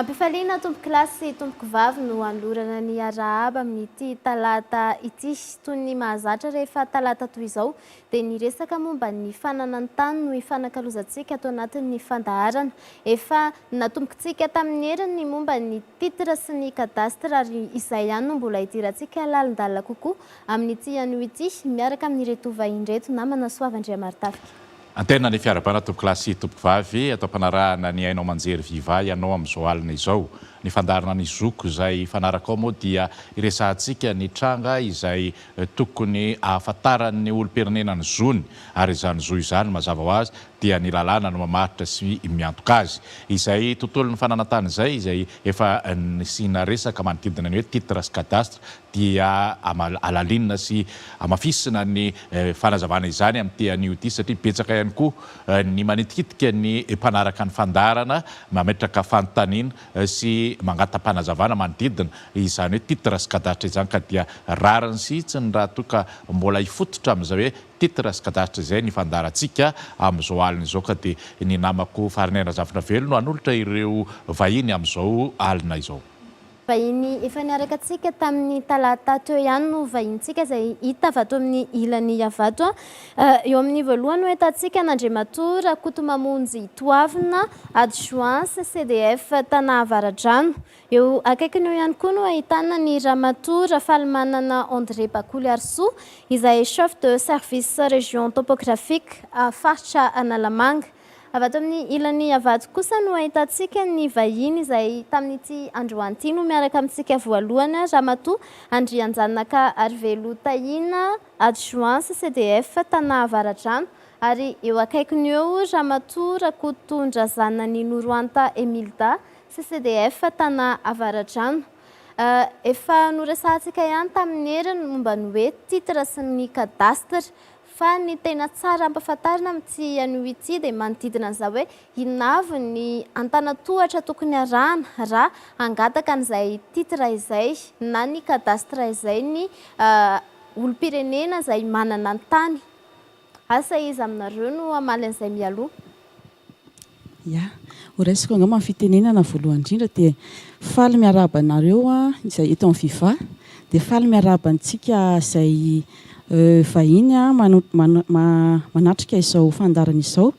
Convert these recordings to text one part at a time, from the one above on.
Ampifaliana tompokolahy sy tompokovavy no hanolorana ny arahaba amin'ity talata ity. Toy ny mahazatra rehefa talata toy izao dia ny resaka momba ny fananan-tany no ifanakalozantsika ato anatin'ny fandaharana. Efa natombokintsika tamin'ny heriny ny momba ny titre sy ny cadastre ary izay ihany no mbola hidirantsika lalindalina kokoa amin'ity anio ity miaraka amin'ireto vahiny ireto namana Soava Andriamarotafika. Anterina ny fiarahabana tompokolahy sy tompokovavy ato am-panarahana ny haino aman-jery Viva ianao amin'izao alina izao. Ny fandaharana ny zoko izay hifanaraka ao moa dia hiresahantsika ny tranga izay tokony ahafantaran'ny olom-pirenena ny zony ary izany zo izany mazava ho azy dia ny lalàna no mamaritra sy miantoka azy. Izay tontolon'ny fananantany izay izay efa nisiana resaka manodidina ny hoe titre sy cadastre dia alalinina sy amafisina ny fanazavana izany amin'ny te anio ity satria betsaka ihany koa ny manitikitika ny mpanaraka ny fandaharana mametraka fanontaniana sy mangata-panazavana manodidina izany hoe titre sy cadastre izany ka dia rariny sy hitsiny raha toa ka mbola hifototra amin'izay hoe titre sy cadastre izay ny fandaharantsika amin'izao alina izao ka dia ny namako Farinay Razafinavelo no hanolotra ireo vahiny amin'izao alina izao. Vahiny efa niaraka antsika tamin'ny talata teo ihany no vahinintsika izay hita avy ato amin'ny ilany Iavato. Eo amin'ny voalohany no ahitantsika an'Andriamatoa Rakotomamonjy Toavina, adjoint CCDF Tana Avaradrano. Eo akaikiny eo ihany koa no ahitana ny Ramatoa Rafalimanana André Bakoliharisoa, izay chef de service région topographique faritra Analamanga. Avy ato amin'ny ilany avadika kosa no ahitantsika ny vahiny izay tamin'ity androany ity no miaraka amintsika voalohany, Ramatoa Andrianjanaka Arivelo Tahina, Adjoint CCDF Tana Avaradrano, ary eo akaikiny eo Ramatoa Rakotondrazanany Noroanta Emilda, CCDF Tana Avaradrano. Efa noresahantsika ihany tamin'ny heriny momba ny hoe titre sy ny cadastre. Fa ny tena tsara hampafantarina amin'ity anio ity dia manodidina an'izao hoe inona avy ny antanantohatra tokony harahana raha hangataka an'izay titre izay na ny cadastre izay ny olom-pirenena izay manana ny tany. Asa iza aminareo no hamaly an'izay mialoha? Ya. Ho raisiko angamba ny fitenenana voalohany indrindra dia faly miarahaba anareo izay eto amin'ny Viva dia faly miarahaba antsika izay vahiny manatrika izao fandaharana izao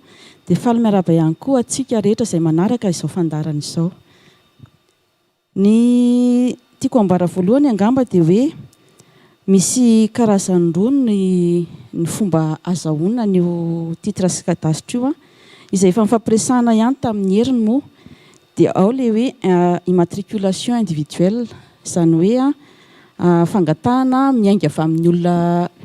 dia faly miarahaba ihany koa antsika rehetra izay manaraka izao fandaharana izao. Ny tiako ambara voalohany angamba dia hoe misy karazany roa ny ny fomba azahoana an'io titre sy cadastre io a. Izay efa nifampiresahana ihany tamin'ny heriny moa dia ao ilay hoe immatriculation individuelle, izany hoe fangatahana miainga avy amin'ny olona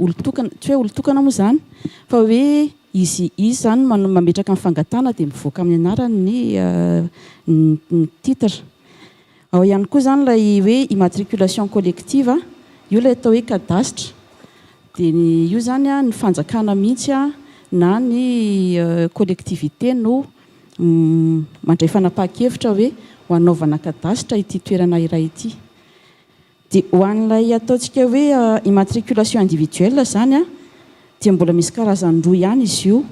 olon-tokana, tsy hoe olon-tokana moa izany fa hoe Izy izy zany mano mametraka ny fangatahana dia mivoaka amin'ny anarany ny ny titre. Ao ihany koa zany ilay hoe immatriculation collective, io ilay atao hoe kadasitra. Dia ny io zany ny fanjakana mihitsy na ny collectivité no mandray fanapahan-kevitra hoe ho anaovana kadasitra ity toerana iray ity. Dia ho an'ilay ataontsika hoe immatriculation individuelle izany dia mbola misy karazany roa ihany izy io.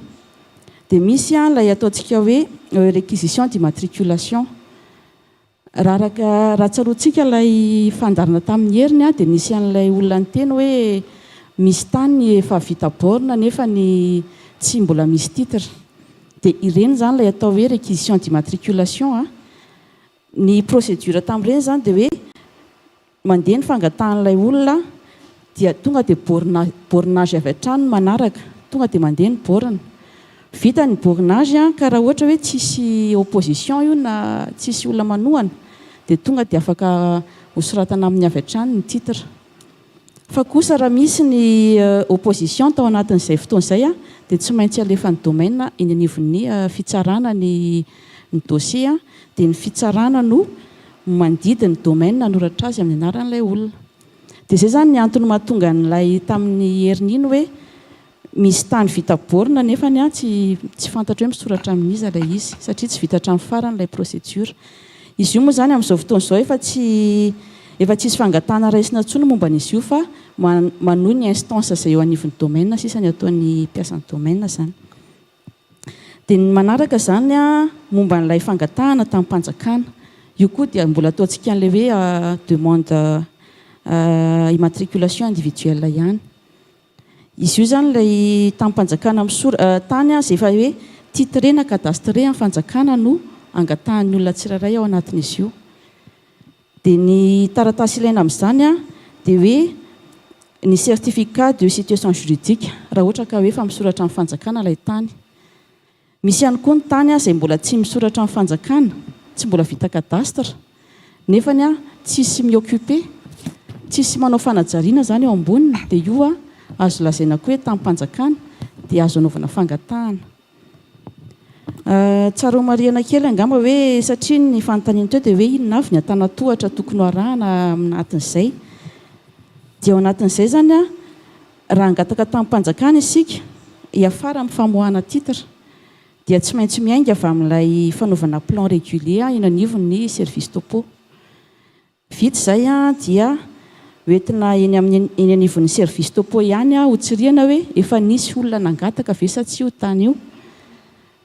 Dia misy ilay ataontsika hoe réquisition d'immatriculation. Raha araka raha tsaroantsika ilay fandaharana tamin'ny heriny dia nisy an'ilay olona niteny hoe misy tany efa vita borne nefa ny tsy mbola misy titre. Dia ireny izany ilay atao hoe réquisition d'immatriculation. Ny procédure tamin'ireny izany dia hoe mandeha ny fangatahan'ilay olona dia tonga dia borna bornage avy hatrany no manaraka, tonga dia mandeha ny borne. Vita ny bornage ka raha ohatra hoe tsisy opposition io na tsisy olona manohana dia tonga dia afaka hosoratana amin'ny avy hatrany ny titre. Fa kosa raha misy ny opposition tao anatin'izay fotoana izay dia tsy maintsy alefan'ny domaine eny anivon'ny fitsarana ny ny dossier dia ny fitsarana no mandidy ny domaine hanoratra azy amin'ny anaran'ilay olona. Dia izay izany ny antony mahatonga an'ilay tamin'ny herin'iny hoe Misy tany vita borne nefany an tsy tsy fantatro hoe misoratra amin'iza ilay izy satria tsy vita hatramin'ny farany ilay procedure. Izy io moa izany amin'izao fotoana izao efa tsy efa tsisy fangatahana raisina intsony momba an'izy io fa manohy ny instance izay eo anivon'ny domaine sisa ny ataon'ny mpiasan'ny domaine izany. Dia ny manaraka izany an momba an'ilay fangatahana tamim-panjakana. Io koa dia mbola ataontsika an'ilay hoe demande immatriculation individuelle ihany. Izy io izany ilay tamim-panjakana misor tany aza efa hoe titre na cadastre amin'ny fanjakana no angatahan'ny olona tsirairay ao anatin'izy io. Dia ny taratasy ilaina amin'izany dia hoe ny certificat de situation juridique raha ohatra ka hoe efa misoratra amin'ny fanjakana ilay tany. Misy ihany koa ny tany izay mbola tsy misoratra amin'ny fanjakana, tsy mbola vita cadastre, nefa ny tsisy mi-occuper, tsisy manao fanajariana izany eo amboniny, dia io azo lazaina koa hoe tamim-panjakana, dia azo anaovana fangatahana. Tsara homarihana kely angamba hoe satria ny fanontaniana teo dia hoe inona avy ny antanantohatra tokony ho arahana amin'ny anatin'izay, dia ao anatin'izay izany, Raha hangataka tamim-panjakana isika hiafara amin'ny famoahana titre dia tsy maintsy miainga avy amin'ilay fanaovana plan régulier eny anivon'ny service topo. Vita izay dia hoentina eny amin'ny eny anivon'ny service topo ihany hotsirihana hoe efa nisy olona nangataka ve sa tsia io tany io.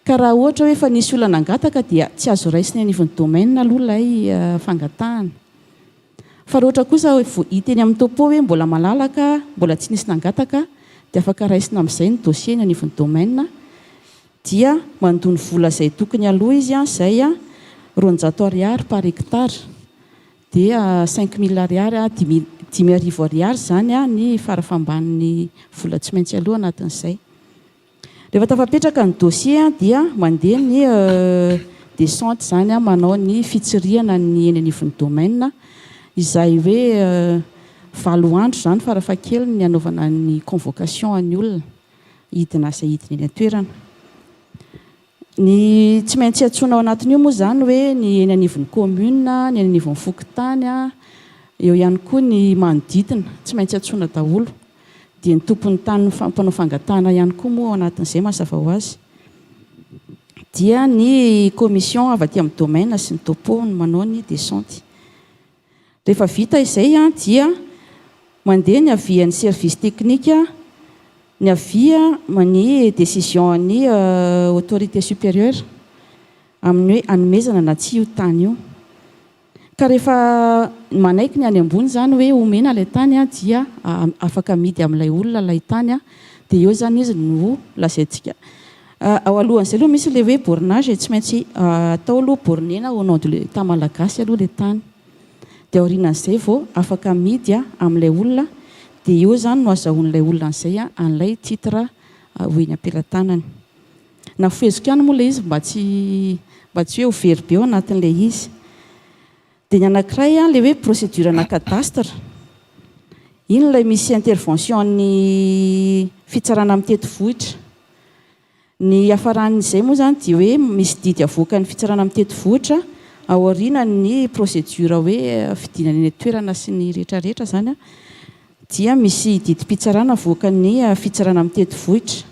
Ka raha ohatra hoe efa nisy olona nangataka dia tsy azo raisiny anivon'ny domaine aloha ilay fangatahana. Fa raha ohatra kosa vao hita eny amin'ny topo hoe mbola malalaka, mbola tsy nisy nangataka dia afaka raisina amin'izay ny dossier eny anivon'ny domaine dia mandoa ny vola izay tokony aloa izy izay roanjato ariary par hectare dia cinq mille ariary, dimy dimy arivo ariary izany ny fara famban'ny vola tsy maintsy aloa anatin'izay. Rehefa tafapetraka ny dossier dia mandeha ny descente izany manao ny fitsirihana ny eny anivon'ny domaine izay hoe valo andro izany farafahakeliny ny hanaovana ny convocation an'ny olona hidina asa hidina eny an-toerana. Ny tsy maintsy iantsoana ao anatin'io moa izany hoe ny eny anivon'ny kaominina, ny eny anivon'ny fokontany, eo ihany koa ny manodidina, tsy maintsy iantsoana daholo. Dia ny tompon'ny tany no mpanao fangatahana ihany koa moa ao anatin'izay mazava ho azy. Dia ny commission avy aty amin'ny domaine sy ny topo no manao ny descente. Rehefa vita izay dia mandeha ny avis an'ny service technique, ny avis ny décision an'ny autorité supérieure amin'ny hoe anomezana na tsia io tany io. Ka rehefa manaiky ny any ambony izany hoe omena ilay tany dia afaka amidy amin'ilay olona ilay tany dia eo izany izy no lazaintsika Ao alohan'izay aloha misy ilay hoe bornage e, tsy maintsy atao aloha bornena au nom de l'etat malagasy aloha ilay tany, dia aorianan'izay vao afaka amidy amin'ilay olona, dia eo izany no azahoan'ilay olona an'izay an'ilay titre ho eny am-pelatanany. Nafeheziko ihany moa ilay izy mba tsy mba tsy hoe ho very be ao anatin'ilay izy. Dia ny anankiray an, ilay hoe procédure ana cadastre, iny ilay misy intervention an'ny fitsarana amin'ny tetivohitra. Ny hiafaran'izay moa izany dia hoe misy didy avoakan'ny fitsarana amin'ny tetivohitra aorianan'ny procédure hoe fidinana eny an-toerana sy ny rehetra rehetra izany an, dia misy didim-pitsarana avoakan'ny fitsarana amin'ny tetivohitra.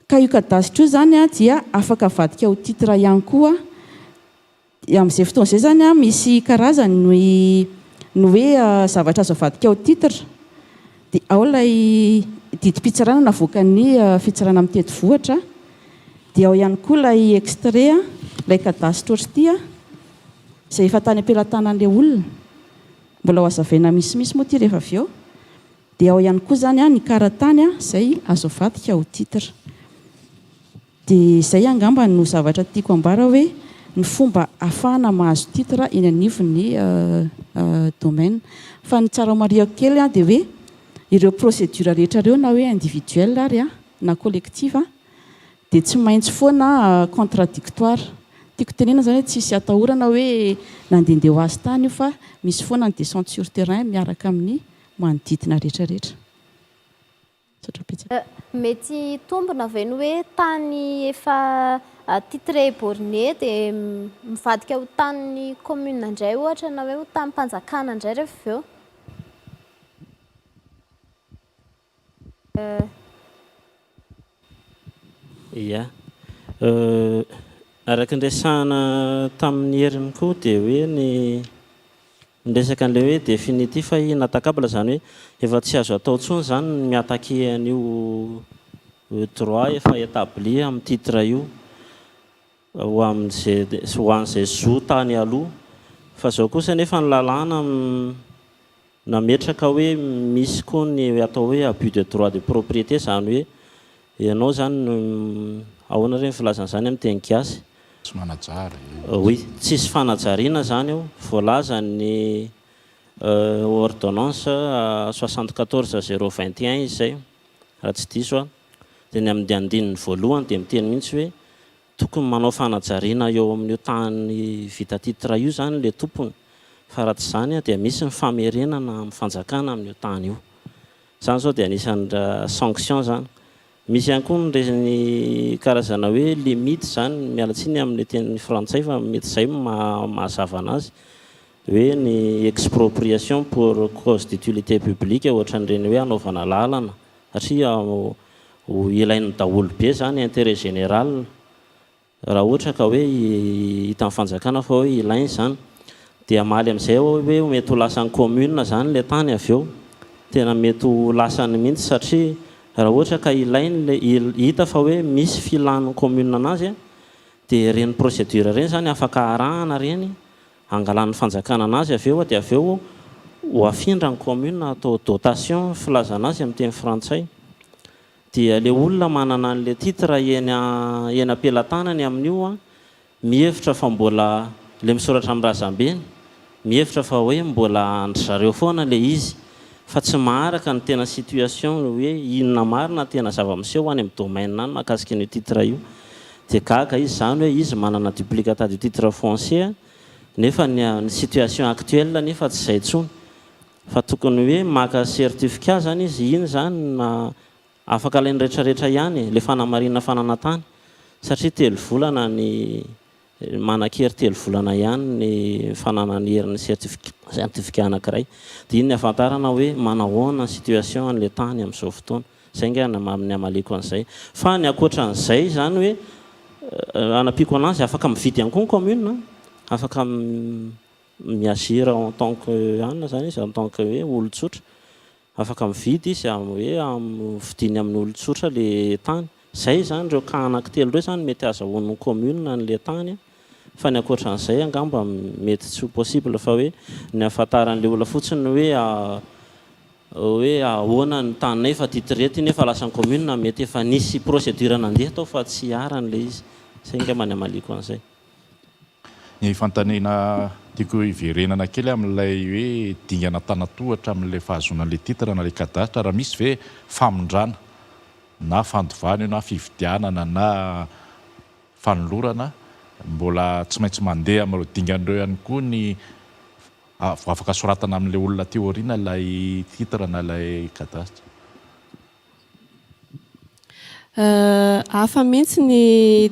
Ka io cadastre io izany an dia afaka avadika ho titre ihany koa. Amin'izay fotoana izay izany an, misy karazany ny ny hoe zavatra azo avadika ao titre, dia ao ilay didim-pitsarana navoakan'ny fitsarana mitety vohitra, dia ao ihany koa ilay extrait an, ilay cadastre ohatr'ity an, izay efa tany am-pelatanan'ilay olona, mbola hohazavaina misimisy moa ity rehefa avy eo, dia ao ihany koa izany an ny karatany izay azo avadika ao titre. Dia izay angamba no zavatra tiako ambara hoe ny fomba afahana mahazo titre eny anivon'ny domaine. Fa ny tsara mariako kely dia hoe ireo procédure rehetra ireo na hoe individuel ary na collective dia tsy maintsy foana contradictoire. Tiako tenenana izany hoe tsisy atahorana hoe nandehandeha ho azy tany io fa misy foana ny descente sur terrain miaraka amin'ny manodidina rehetra rehetra. Mety hitombina ve ny hoe tany efa titrer borne dia mivadika ho tanin'ny commune indray ohatra na hoe ho tanim-panjakana indray rehefa avy eo? Ia. Araka ny resahina tamin'ny heriny koa dia hoe ny. Ny resaka an'ilay hoe définitif et inattaquable izany hoe efa tsy azo atao intsony izany ny mi-attaquer an'io droit efa établi amin'ny titre io ho amin'izay ho an'izay zo tany aloha. Fa izao kosa anefa ny lalàna nametraka hoe misy koa ny atao hoe abus de droit de propriété izany hoe Ianao izany no Ahoana re ny filazana izany amin'ny teny gasy? Tsy manajary. Oui, tsisy fanajariana izany eo, voalazan'ny ordonnance soixante quatorze zéro vingt et un izy izay raha tsy diso aho. Dia ny amin'ny andininy voalohany dia miteny mihitsy hoe tokony manao fanajariana eo amin'io tany vita titre io izany ilay tompony fa raha tsy izany dia misy ny famerenana amin'ny fanjakana amin'io tany io. Zany zao dia anisany ra sanction zany. Misy ihany koa ny res ny karazana hoe limite izany, miala tsiny amin'ny teny frantsay fa mety izay no maha mahazava anazy, hoe ny expropriation pour cause d'utilité publique ohatran'ireny hoe hanaovana lalana satria ho ilain'ny daholo be izany intérêt général Raha ohatra ka hoe hitan'ny fanjakana fa hoe ilaina izany dia hamaly amin'izay aho hoe mety ho lasan'ny commune izany ilay tany avy eo. Tena mety ho lasany mihitsy satria raha ohatra ka ilaina ilay, hita fa hoe misy filan'ny commune an'azy dia ireny procédure ireny izany afaka arahana ireny, angalan'ny fanjakana an'azy avy eo dia avy eo ho afindran'ny commune atao dotation filazana azy amin'ny teny frantsay. Dia le olona manana an le titre eny eny ampelatanany amin'io an, mihevitra fa mbola, le misoratra amin'ny razambeny, mihevitra fa hoe mbola an-dry zareo foana le izy, fa tsy maharaka ny tena situation ny hoe inona marina ny tena zava-miseho any amin'ny domaine any mahakasika an'io titre io. Dia gaga izy zany hoe izy manana duplicata du titre foncier nefa ny ny situation actuelle nefa tsy izay intsony. Fa tokony hoe maka certificat zany izy iny zany na afaka alainy rehetra rehetra ihany e, le fanamarina fa nanatany, satria telo volana ny manan-kery telo volana ihany ny fananany hery ny certificat anakiray, de iny ny afantarana hoe manahoana ny situation anle tany amzao fotoana, zay nga ny maha amaliako anzay, fa ny akoatranzay zany hoe anampiako anazy afaka mividy ihany koa ny commune an, afaka. mi-agir en tant que anona izany izy, en tant que hoe olon-tsotra. Afaka mividy izy amin'ny hoe amin'ny vidiny amin'ny olon-tsotra ilay tany. Izay izany, ireo cas anankitelo ireo izany no mety azahoan'ny commune an'ilay tany fa ny ankoatra an'izay angamba mety tsy ho possible fa hoe ny ahafantaran'ilay olona fotsiny hoe hoe ahoana ny taninay fa titré ity nefa lasa ny commune mety efa nisy procédure nandeha tao fa tsy iharan'ilay izy. Izay angamba ny hamaliako an'izay. Ny fanontaniana tiako hiverenana kely amin'ilay hoe dingana an-tanatohatra amin'ilay fahazoana an'ilay titre na ilay cadastre raha misy ve famindrana na fandovana io na fividianana na fanolorana mbola tsy maintsy mandeha amin'ireo dingana ireo ihany koa ny vao afaka soratana amin'ilay olona aty aoriana ilay titre na ilay cadastre. Hafa mihitsy ny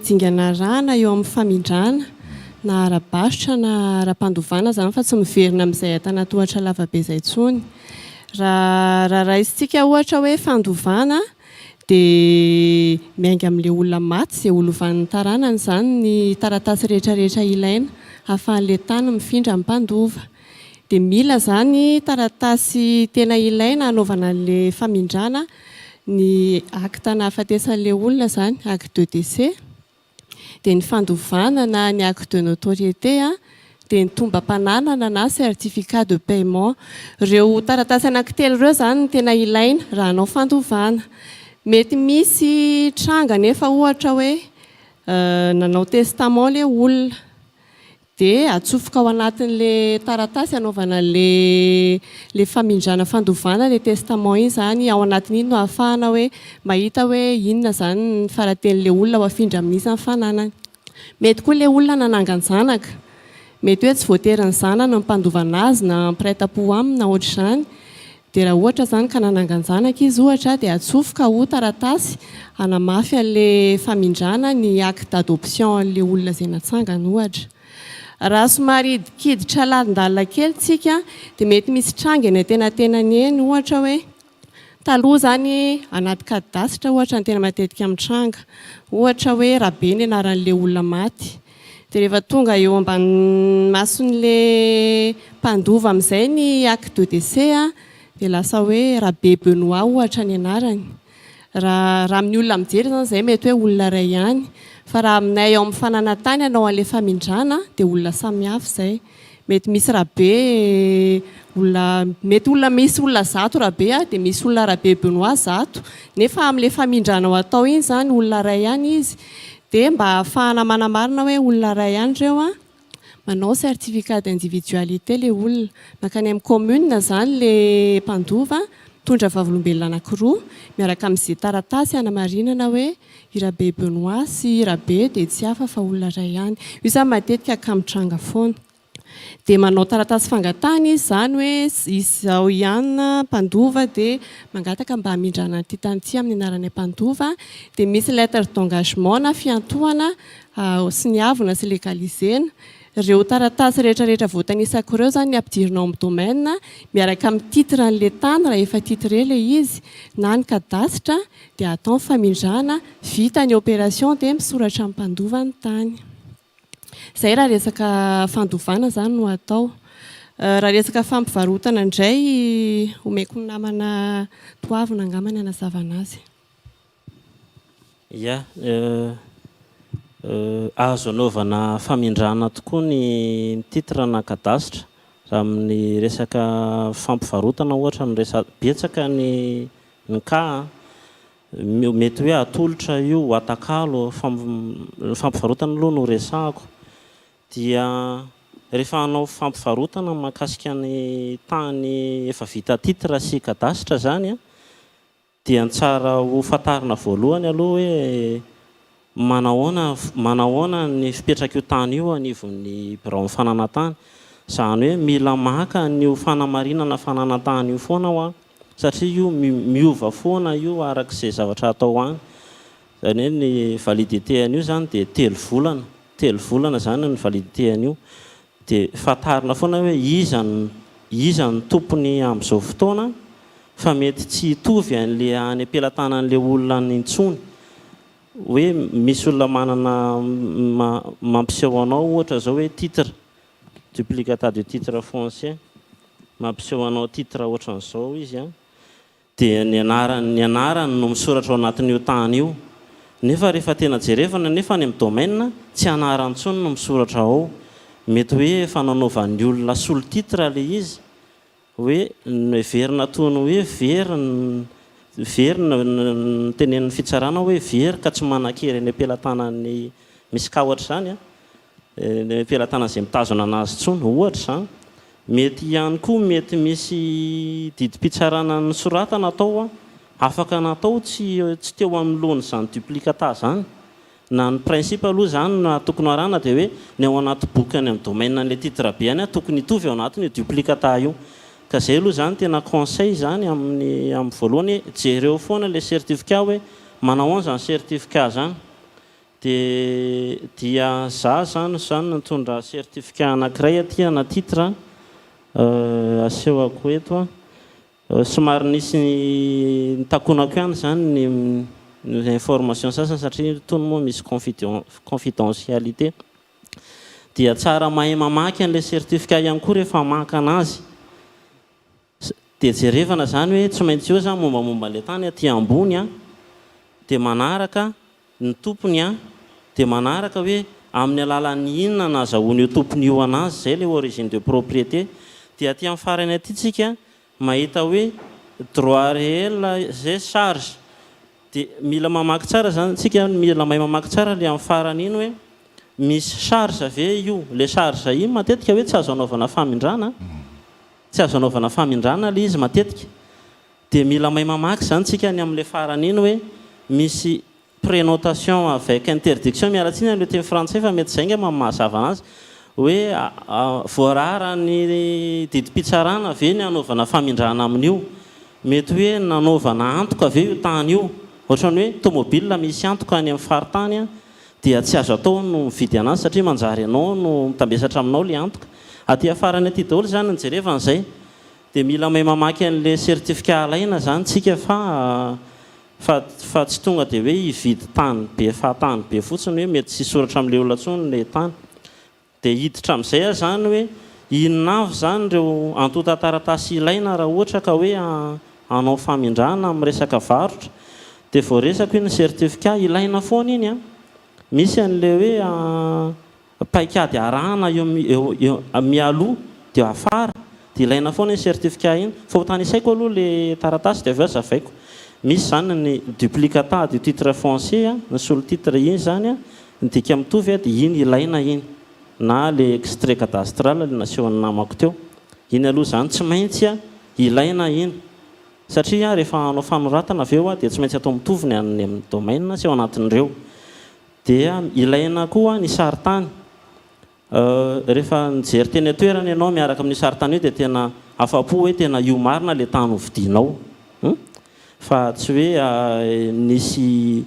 dingana arahana eo amin'ny famindrana na ara-barotra na ara-pandovana izany fa tsy miverina amin'izay antanatohatra lavabe izay intsony. Raha raisintsika ohatra hoe fandovana dia miainga amin'ilay olona maty izay ho lovan'ny taranany izany ny taratasy rehetrarehetra ilaina hahafahan'ilay tany mifindra ny mpandova. Dia mila izany taratasy tena ilaina hanaovana an'ilay famindrana ny acte nahafatesan'ilay olona izany, acte de décès, dia ny fandovana na ny acte de notoriété, dia ny tombam-pananana na certificat de paiement. Ireo taratasy anankitelo ireo izany no tena ilaina raha hanao fandovana. Mety misy tranga anefa ohatra hoe nanao testament ilay olona, Dia atsofoka ao anatin'ilay taratasy anaovana ilay famindrana fandovana ilay testament iny izany, ao anatin'iny no ahafahana hoe mahita hoe inona izany ny fara-tenin'ilay olona ho afindra amin'iza ny fananany. Mety koa ilay olona nanangan-janaka, mety hoe tsy voatery ny zanany no mpandova an'azy na mpiray tampo aminy na ohatr'izany, Dia raha ohatra izany ka nanangan-janaka izy ohatra dia atsofoka ho taratasy hanamafy an'ilay famindrana ny acte d'adoption an'ilay olona izay natsangana ohatra. Raha somary hidikiditra lalindalina kely tsika dia mety misy tranga eny antenatenany eny ohatra hoe taloha izany anaty cadastre ohatra no tena matetika mitranga ohatra hoe Rabe ny anaran'ilay olona maty Dia rehefa tonga eo ambanin'ny mason'ilay mpandova amin'izay ny acte de décès dia lasa hoe Rabe Benoît ohatra ny anarany. Raha raha amin'ny olona mijery izany izay mety hoe olona iray ihany fa raha aminay ao amin'ny fananantany hanao an'ilay famindrana dia olona samihafa izay. Mety misy Rabe olona mety olona misy olona zato Rabe a dia misy olona Rabe Benoît zato nefa amin'ilay famindranao atao iny izany olona iray ihany izy dia mba ahafahana manamarina hoe olona iray ihany ireo a manao certificat d'individualité ilay olona mankany amin'ny commune izany ilay mpandova mitondra vavolombelona anankiroa miaraka amin'izay taratasy hanamarinana hoe I Rabe Benoît sy i Rabe dia tsy hafa fa olona iray ihany. Io izany matetika ka mitranga foana. Dia manao taratasy fangatahana izy izany hoe izao ihany mpandova dia mangataka mba hamindrana an'ity tany ity amin'ny anaranay mpandova. Dia misy lettre d'engagement na fiantohana soniavina sy legalisena. Ireo taratasy rehetra rehetra voatanisako ireo izany ny ampidirina ao amin'ny domaine miaraka amin'ny titre an'ilay tany raha efa titre ilay izy na ny kadasitra dia atao ny famindrana, vita ny opération dia misoratra ny mpandova ny tany. Izay raha resaka fandovana izany no atao. Raha resaka fampivarotana indray, omeko ny namana Toavina angamba ny hanazavana azy. Ia, azo anaovana famindrana tokoa ny titre na cadastre raha amin'ny resaka fampivarotana ohatra no resahantsika. Betsaka ny. Nka mety hoe atolotra io ho atakalo fa ny fampivarotana aloha no resahako dia rehefa hanao fampivarotana mahakasika ny tany efa vita titre sy cadastre zany dia ny tsara ho fantarina voalohany aloha hoe Manahoana manahoana ny fipetrak'io tany io anivon'ny biraon'ny fananantany? Izany hoe mila maka an'io fanamarinana fananantany io foana aho an, satria io miova foana io araka izay zavatra atao any. Izany hoe ny validité an'io izany dia telo volana, telo volana izany ny validité an'io. Dia fantarina foana hoe iza no iza no tompony amin'izao fotoana fa mety tsy hitovy an'ilay any am-pelatanan'ilay olona any intsony. Hoe misy olona manana mampiseho anao ohatra zao hoe titre, duplicata de titre foncier, mampiseho anao titre ohatran'izao izy an, dia ny anarany ny anarany no misoratra ao anatin'io tany io, nefa rehefa tena jerevana nefa any amin'ny domaine tsy anarany intsony no misoratra ao, mety hoe efa nanaovan'ny olona sous le titre ilay izy Hoe noheverina toy ny hoe very ny very ny notenenin'ny fitsarana hoe very ka tsy manan-kery eny am-pelatanan'ny misy cas ohatra izany an, eny am-pelatanan'izay mitazona anazy intsony, ohatra izany. Mety ihany koa mety misy didim-pitsarana nosoratana tao an, afaka natao tsy tsy teo amin'ny lohan'izany duplicata izany Na ny principe aloha izany no tokony ho arahina dia hoe ny ao anaty boky any amin'ny domaine an'ilay titre be any tokony hitovy ao anatiny io duplicata io. Ka izay aloha izany tena conseil izany amin'ny amin'ny voalohany hoe jereo foana ilay certificat hoe manahoana izany certificat izany. Dia dia za izany izany nitondra certificat anankiray aty ana titre asehoko eto. Somary nisy nitakonako ihany izany ny ny information sasany satria itony moa misy confideon confidentialité. Dia tsara mahay mamaky an'ilay certificat ihany koa rehefa maka anazy. Dia jerevana izany hoe tsy maintsy eo izany mombamomba an'ilay tany aty ambony a. Dia manaraka. Ny tompony an! Dia manaraka hoe amin'ny alalan'ny inona no azahoan'io tompony io an'azy, izay ilay origine de propriété. Dia aty amin'ny farany aty tsika mahita hoe droit réel et charge. Dia mila mamaky tsara izany tsika, mila mahay mamaky tsara ilay amin'ny farany iny hoe misy charge ve io. Ilay charge iny matetika hoe tsy azo anaovana famindrana, tsy azo anaovana famindrana ilay izy matetika. Dia mila mahay mamaky izany tsika ny amin'ilay farany iny hoe misy prenotation avec interdiction, miala tsiny amin'ilay teny frantsay fa mety izay angamba no mahazava anazy, hoe voararan'ny didim-pitsarana ve ny hanaovana famindrana amin'io? Mety hoe nanaovana antoka ve io tany io? Ohatran'ny hoe tomobil misy antoka any amin'ny faritany dia tsy azo atao ny mividy anazy satria manjary ianao no mitambesatra aminao ilay antoka. Aty afarany aty daholo izany ny jerevana izay. Dia mila mahay mamaky an'ilay certificat alaina izany tsika fa fa fa tsy tonga dia hoe hividy tany be fahatany be fotsiny hoe mety tsy hisoratra amin'ilay olona intsony ilay tany. Dia hiditra amin'izay aza izany hoe inona avy izany ireo antontan-taratasy ilaina raha ohatra ka hoe hanao famindrana amin'ny resaka varotra. Dia voaresako iny certificat ilaina foana iny an! Misy an'ilay hoe paikady arahana eo eo eo mialoha de afara de ilaina foana iny certificat iny fa hotanisaiko aloha le taratasy de avy eo azavaiko misy zany ny duplicata du titre foncier a ny sous titre iny zany a ny dika mitovy a de iny ilaina iny na le extrait cadastral le nasehon'ny namako teo iny aloha zany tsy maintsy a ilaina iny satria rehefa hanao fanoratana avy eo a de tsy maintsy atao mitovy ny an'ny domaine sy ao anatin'ireo Dia ilaina koa ny sarintany. Rehefa nijery teny an-toerana ianao miaraka amin'io sarintany io dia tena afa-po hoe tena io marina ilay tany hovidianao. Fa tsy hoe nisy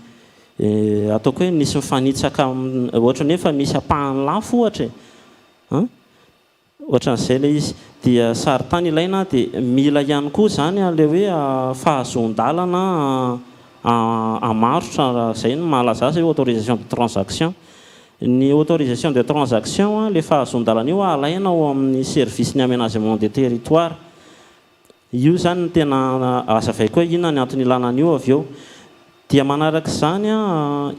ataoko hoe nisy mifanitsaka, ohatran'ny hoe efa misy ampahany lafo ohatra e. Ohatran'izay ilay izy. Dia sarintany ilaina dia mila ihany koa izany ilay hoe fahazoan-dalana hamarotra raha izay no mahalaza azy hoe autorisation de transaction. Ny autorisation de transaction, ilay fahazoan-dalana io alaina ao amin'ny service ny aménagement des territoires. Io izany no tena hazavaiko hoe inona ny antony ilana an'io avy eo. Dia manaraka izany,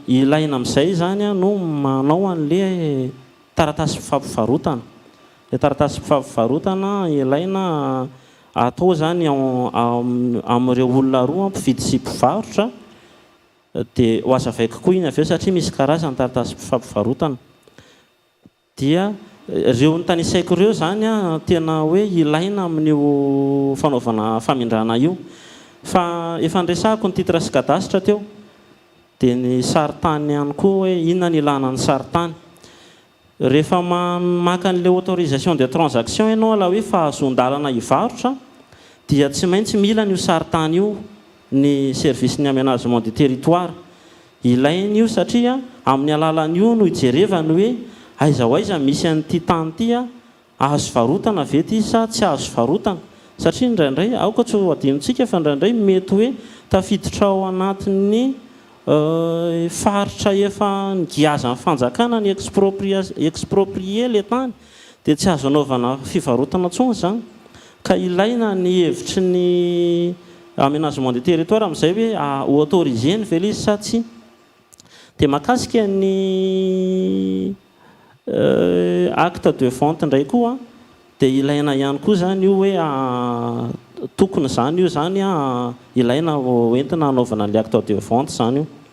ilaina amin'izay izany no manao an'ilay taratasy fampivarotana. Ilay taratasy fampivarotana ilaina atao izany amin'ireo olona roa, mpividy sy mpivarotra. Dia ho hazavaiko koa iny avy eo satria misy karazany ny taratasy fampivarotana. Dia ireo notanisaiko ireo izany tena hoe ilaina amin'io fanaovana famindrana io. Fa efa niresahako ny titre sy cadastre teo. Dia ny sarintany ihany koa hoe inona no ilana ny sarintany. Rehefa maka an'ilay autorisation de transaction ianao ilay hoe fahazoan-dalana hivarotra dia tsy maintsy mila an'io sarintany io ny service ny aménagement du territoire. Ilaina io satria amin'ny alalan'io no ijerevany hoe aiza ho aiza misy an'ity tany ity a! Azo varotana ve ity sa tsy azo varotana? Satria indraindray, aoka tsy ho adinontsika fa indraindray mety hoe tafiditra ao anatin'ny faritra efa nigiazan'ny fanjakana ny exproprier ilay tany dia tsy azo anaovana fivarotana intsony izany ka ilaina ny hevitry ny Aménagement du territoire amin'izay hoe ho autoriser-ny ve ilay izy sa tsia. Dia mahakasika ny acte de vente indray koa dia ilaina ihany koa izany io hoe tokony izany io izany ilaina ho entina hanaovana ilay acte de vente izany io.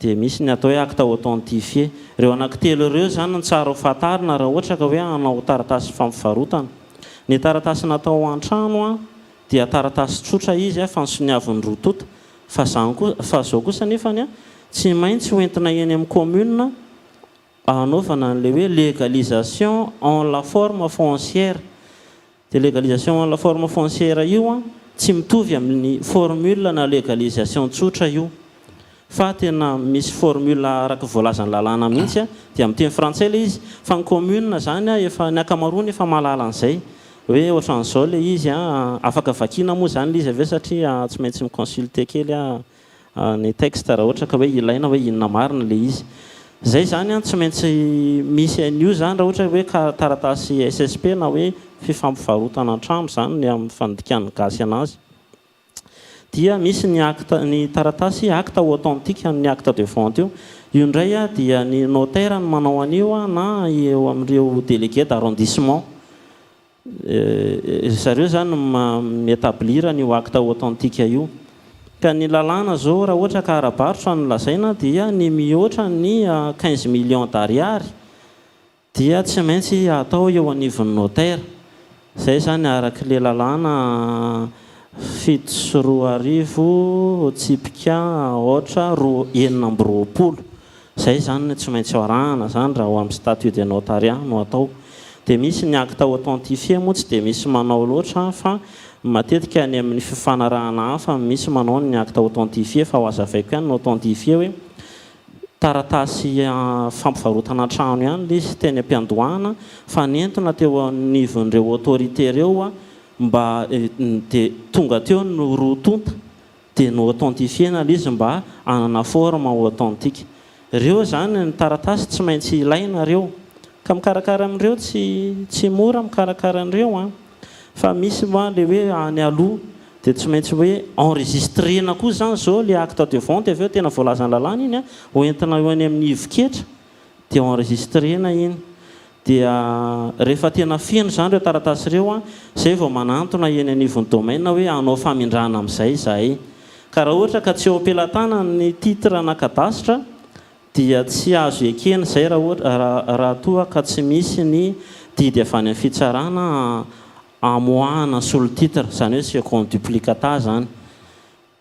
Dia misy ny atao hoe acte authentifié. Ireo anankitelo ireo izany no tsara ho fantarina raha ohatra ka hoe hanao taratasy fampivarotana. Ny taratasy natao ho an-trano dia taratasy tsotra izy fa ny soniavin'ny roa tonta. Fa izany kosa, fa izao kosa anefa ny tsy maintsy ho entina eny amin'ny commune hanaovana an'ilay hoe légalisation en la forme foncière. Io légalisation en la forme foncière io an, tsy mitovy amin'ny formule na légalisation tsotra io, fa tena misy formule araka voalazan'ny lalàna mihitsy an, dia amin'ny teny frantsay ilay izy, fa ny commune izany an efa, ny ankamaroany efa mahalala an'izay, hoe ohatran'izao ilay izy an, afaka vakiana moa izany ilay izy avy eo satria tsy maintsy mi-consulter kely an. ny texte raha ohatra ka hoe ilaina hoe inona marina ilay izy. Izay izany an, tsy maintsy misy an'io izany raha ohatra hoe ka taratasy SSP na hoe fifampivarotana an-trano izany ny amin'ny fandikan'ny gasy an'azy dia misy ny acte, ny taratasy acte authentique an'ny acte de vente io. Io indray an dia ny notaire no manao an'io an na eo amin'ireo délégué d'arrondissement. Ry zareo zany no mi-etablir an'io acte authentique io. Ka ny lalàna zao raha ohatra ka ara-barotra no lazaina dia ny mihoatra ny quinze millions d'ariary dia tsy maintsy atao eo anivon'ny notaire. Zay zany araky le lalàna fito sy roa arivo tsipika aotra roa enina amby roapolo. Izay izany no tsy maintsy ho arahana izany raha ho amin'ny statut de notariat no atao. Dia misy ny acte authentifié moa tsy dia misy manao loatra fa matetika any amin'ny fifanarahana hafa no misy manao ny acte authentifié fa ho azavaiko ihany ny authentifié hoe taratasy fampivarotana trano ihany ilay izy teny am-piandohana fa nentina teo anivon'ireo autorité ireo mba dia tonga teo ny roa tonta dia no-authentifier-na ilay izy mba hanana forme authentique. Ireo izany ny taratasy tsy maintsy ilaina ireo. Ka mikarakara an'ireo tsy tsy mora mikarakara an'ireo an! Fa misy moa ilay hoe any aloha dia tsy maintsy hoe enregistrena koa izany izao ilay acte de vente avy eo tena voalazan'ny lalàna iny an! Hoentina eo any amin'ny hivo ketra. dia enregistrena iny dia rehefa tena feno izany ireo taratasy ireo an, izay vao manantona eny anivon'ny domaine hoe hanao famindrana amin'izay izahay. Ka raha ohatra ka tsy eo am-pelatanana ny titre na cadastre dia tsy azo ekena izay raha ohatra raha toa ka tsy misy ny didy avy any amin'ny fitsarana hamoahana solon-titre, izany hoe second duplicata izany.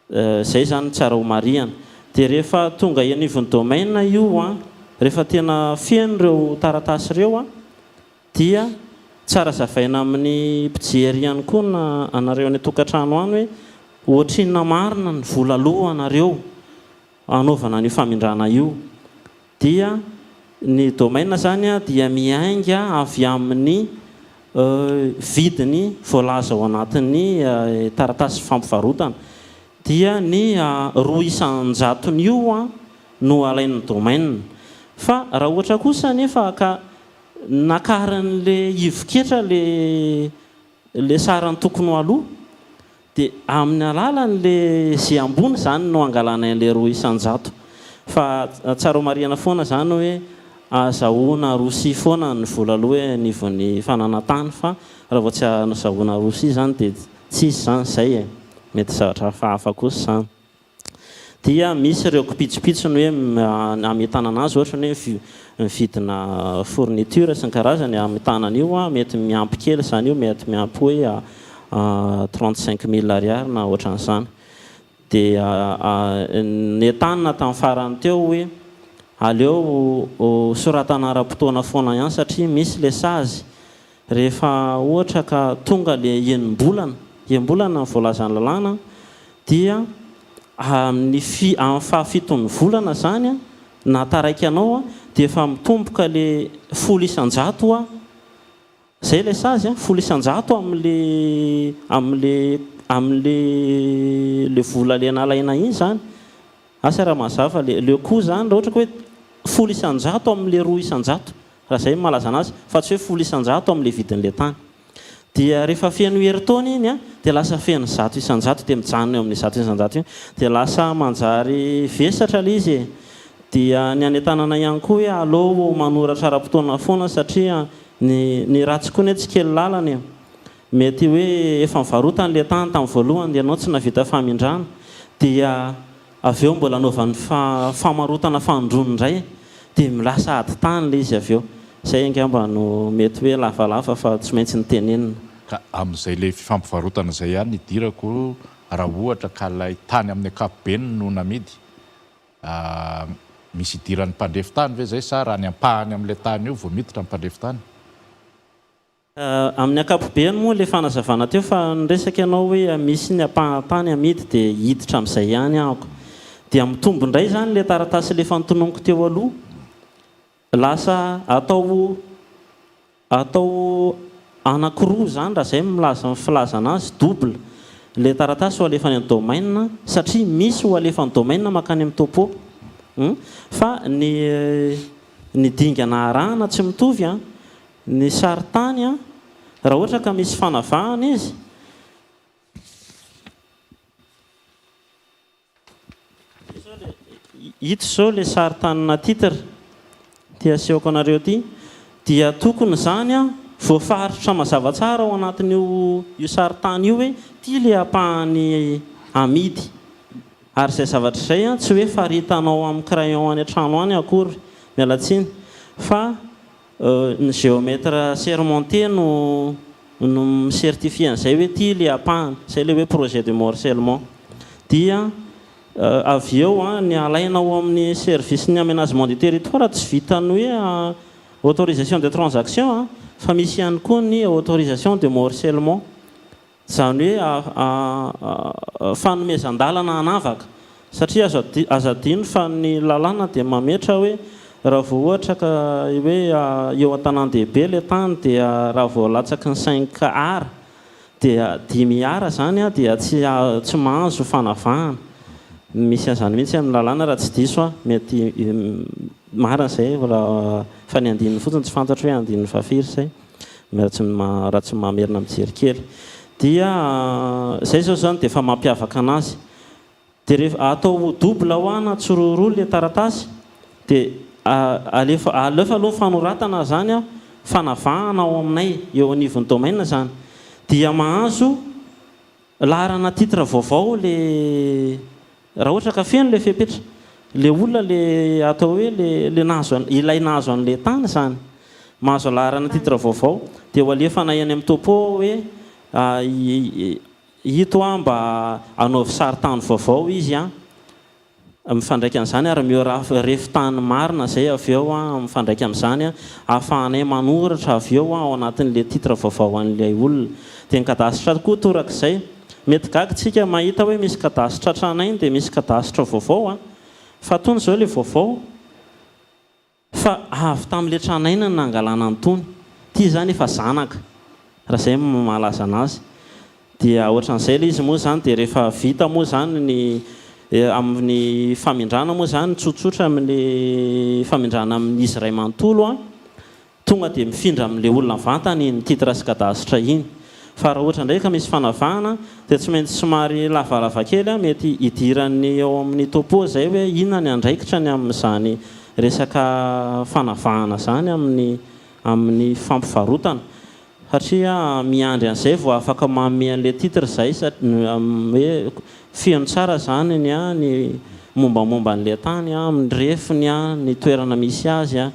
Izay izany tsara homarihana. Dia rehefa tonga eny anivon'ny domaine io an, rehefa tena feno ireo taratasy ireo an, dia tsara zavaina amin'ny mpijery ihany koa na anareo any an-tokantrano any hoe ohatrinona marina ny vola aloa anareo hanaovana an'io famindrana io. dia ny domaine izany dia miainga avy amin'ny vidiny voalaza ao anatin'ny taratasy fampivarotana, dia ny roa isan-jatony io no alain'ny domaine. Fa raha ohatra kosa anefa ka nakarin'ilay ivo-ketra ilay sarany tokony ho aloa, Dia amin'ny alalan'le ze ambony zany no angalanay an'le roa isan-jato. Fa tsara homarihana foana zany hoe azahoana arosia foana ny vola aloha e anivon'ny fananantany fa raha vao tsy azahoana arosia zany dia tsisy zany zay e. Mety zavatra hafahafa kosa zany. dia misy ireo kipitsopitsony hoe hametana an'azy ohatra ny hoe mividina fourniture sy ny karazany hametana an'io an, mety miampy kely izany io mety miampy hoe trente cinq mille ariary na ohatran'izany dia nentanina tamin'ny farany teo hoe aleo soratana ara-potoana foana ihany satria misy ilay sazy Rehefa ohatra ka tonga ilay enim-bolana, enim-bolana no voalazan'ny lalàna, dia amin'ny amin'ny fahafiton'ny volana izany na taraiky anao dia efa mitomboka ilay folo isan-jato a, izay ilay sazy a, folo isan-jato amin'ilay amin'ilay amin'ilay ilay vola le nalaina iny izany. Asa raha mazava fa le le coup zany raha ohatra ka hoe folo isan-jato amin' le roa isan-jato, raha zay ny malaza anazy, fa tsy hoe folo isan-jato amin' le vidin' le tany. Dia rehefa feno herintaona iny an, dia lasa feno zato isan-jato, dia mijanona eo amin' ny zato isan-jato eo. Dia lasa manjary vesatra le izy e! Dia ny any an-tanana ihany koa hoe aleo manoratra ara-potoana foana satria ny ny ratsy koa anie tsy kely lalana e! Mety hoe efa nivarotany ilay tany tamin'ny voalohany ianao tsy nahavita famindrana dia avy eo mbola anaovany famarotana fanondrony indray dia lasa ady tany ilay izy avy eo. Izay angamba no mety hoe lavalava fa tsy maintsy notenenina. Ka amin'izay ilay fifampivarotana izay ihany no idirako raha ohatra ka ilay tany amin'ny ankapobeny no namidy. Misy idiran'ny mpandrefy tany ve izay sa raha ny ampahany amin'ilay tany io vao miditra ny mpandrefy tany? Amin'ny ankapobeny moa ilay fanazavana teo fa niresaka ianao hoe misy ny ampahan-tany amidy dia hiditra amin'izay ihany ahoko. Dia mitombo indray izany ilay taratasy alefa notononiko teo aloha. Lasa atao atao anankiroa izany raha izay milaza ny filazana azy, double, ilay taratasy ho alefa any domaine satria misy ho alefa any domaine mankany amin'ny topo. Fa ny ny dingana arahana tsy mitovy an! Ny sarintany an, raha ohatra ka misy fanavahana izy. Ito izao ilay sarintanina titre ity asehoko anareo ity dia tokony izany an voafaritra mazava tsara ao anatin'io io sarintany io hoe ity ilay ampahany amidy ary izay zavatra izay an tsy hoe faritanao amin'ny crayon any an-trano any akory, miala tsiny, fa. Ny géomètre assermenté no no mi-certifier an'izay hoe ity ilay ampahany, izay ilay hoe projet de morcellement. Dia avy eo ny alaina ao amin'ny service ny aménagement du territoire tsy vitan'ny hoe autorisation de transaction fa misy ihany koa ny autorisation de morcellement. Izany hoe fanomezan-dalana hanavaka. Satria aza adino fa ny lalàna dia mametra hoe raha vao ohatra ka hoe eo an-tanàn-dehibe ilay tany dia raha vao latsaky ny cinq ar dia dimy ar izany dia tsy mahazo fanavahana. Misy an'izany mihitsy amin'ny lalàna raha tsy diso aho. Mety marina izay fa ny andininy fotsiny tsy fantatro hoe andininy vafiry izay. Ratsimamerina mijery kely dia zay zao zany dia efa mampiavaka anazy dia atao double ho ahy na tsoroho roa le taratasy dia alefa alefa aloha ny fanoratana zany an fanavahana ao aminay eo anivon'ny domaine zany dia mahazo Laharana titre vaovao le raha ohatra ka feno le fepetra le olona le atao hoe le le nahazo an ilay nahazo anle tany izany mahazo laharana titre vaovao de ho alefana eny am topo ao hoe ito a mba anaovy sary tany vaovao izy a Mifandraika amin'izany ary miora refy tany marina izay avy eo an, mifandraika amin'izany an, ahafahanay manoratra avy eo an ao anatin'ilay titre vaovao an'ilay olona. Dia ny kadastratra koa torak'izay. Mety gaga isika mahita hoe misy kadastratra anay dia misy kadastra vaovao an, fa tony izao ilay vaovao. Fa avy tamin'ilay tranainy no nangalana an'itony. Ity izany efa zanaka, raha izay no mahalaza anazy. Dia ohatran'izay ilay izy moa izany. Dia rehefa vita moa izany ny, amin'ny famindrana moa izany, tsotsotra amin'ilay famindrana amin'izy iray manontolo, tonga dia mifindra amin'ilay olona vantany iny, titre sy cadastre iny. Fa raha ohatra indray ka misy fanavahana dia tsy maintsy somary lavalava kely an, mety hidiran'ny ao amin'ny topo izay hoe inona ny andraikitra ny amin'izany resaka fanavahana izany amin'ny amin'ny fampivarotana satria miandry an'izay vao afaka manome an'ilay titre izay hoe feno tsara izany ny an, ny mombamomba an'ilay tany an, ny refiny an, ny toerana misy azy an,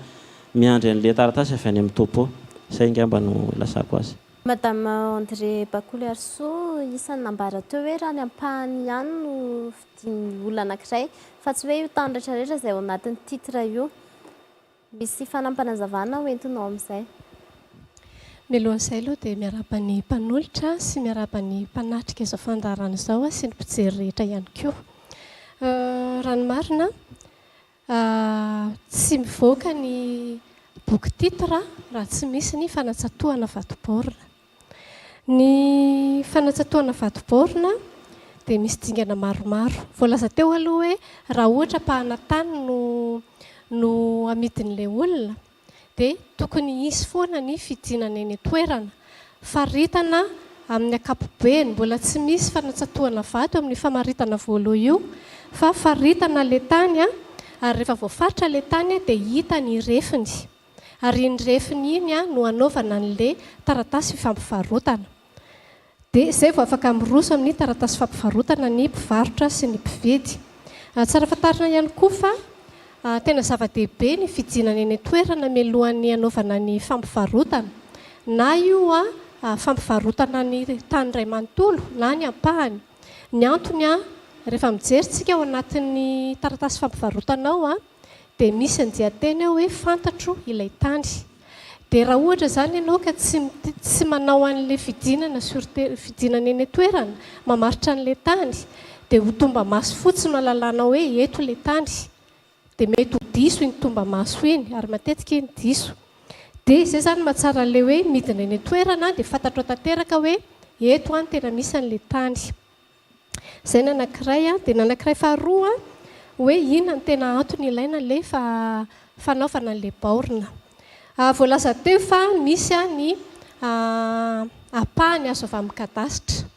Miandry an'le taratasy avy any amin'ny topo. Zay ngamba no ilazako azy. Madame André Bakolyarisoa, isan'ny nambara teo hoe raha ny ampahany ihany no fidin'ny olona anankiray, fa tsy hoe io tany rehetrarehetra izay ao anatin'ny titre io. Misy fanampanazavana ho entinao amin'izay. Mialohan'izay aloha dia miarahaba ny mpanolotra sy miarahaba ny mpanatrika izao fandaharana izao sy ny mpijery rehetra ihany koa. Raha ny marina, A, Tsy mivoaka ny boky titre raha tsy misy ny fanatsatohana vato-baorina. Ny fanatsatohana vato-baorina dia misy dingana maromaro. Voalaza teo aloha hoe raha ohatra ampahana tany no no amidin'ilay olona dia tokony hisy foana ny fidinana eny an-toerana. Faritana amin'ny ankapobeny, mbola tsy misy fanatsatohana vato amin'io famaritana voaloha io fa faritana ilay tany ary rehefa voafaritra ilay tany dia hita ny refiny ary iny refiny iny no hanaovana an'ilay taratasy fifampivarotana. Dia izay vao afaka miroso amin'ny taratasy fampivarotana ny mpivarotra sy ny mpividy. Tsara fantarina ihany koa fa tena zava-dehibe ny fijinana eny an-toerana mialohan'ny hanaovana ny fampivarotana, na io fampivarotana ny tany iray manontolo na ny ampahany. Ny antony, rehefa mijery isika ao anatin'ny taratasy fampivarotana ao, Dia misy ny dianteny ao hoe fantatro ilay tany. Dia raha ohatra izany ianao ka tsy tsy manao an'ilay fidinana sur terre, fidinana eny an-toerana, mamaritra an'ilay tany, dia ho tomba-maso fotsiny no alalanao hoe eto ilay tany. Dia mety ho diso iny tomba-maso iny, ary matetika iny diso. Dia izay izany no mahatsara an'ilay hoe midina eny an-toerana dia fantatrao tanteraka hoe eto aho no tena misy an'ilay tany. Izay ny anankiray an. Dia ny anankiray faharoa an, hoe inona no tena antony ilaina ilay fanaovana an'ilay baorina. Voalaza teo fa misy ny ampahany azo avy amin'ny kadasitra.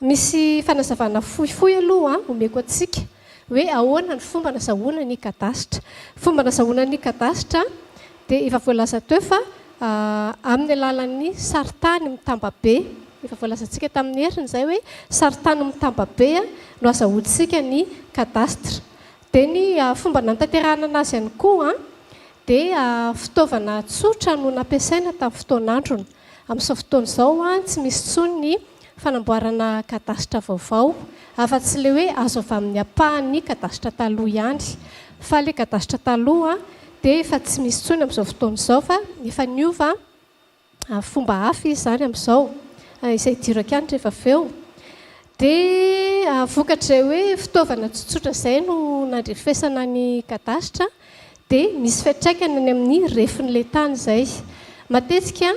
Misy fanazavana fohifohy aloha omeko antsika. Hoe ahoana ny fomba nazahoana ny kadasitra. Fomba nazahoana ny kadasitra dia efa voalaza teo fa amin'ny alalan'ny sarintany mitambabe. Efa voalazantsika tamin'ny heriny izay hoe sarintany mitambabe no azahoantsika ny kadasitra. Dia ny fomba nanatanterahana anazy ihany koa dia fitaovana tsotra no nampiasaina tamin'ny fotoan'androny. Amin'izao fotoana izao, tsy misy intsony ny fanamboarana kadasitra vaovao, afa-tsy ilay hoe azo avy amin'ny ampahan'ny kadasitra taloha ihany. Fa ilay kadasitra taloha dia efa tsy misy intsony amin'izao fotoana izao fa efa niova fomba hafa izy izany amin'izao, izay hidiro an-kianitra efa avy eo. Dia vokatr'izay hoe fitaovana tsotsotra izay no nandrefesana ny kadasitra dia misy fiantraikany any amin'ny refin'ilay tany izay. Matetika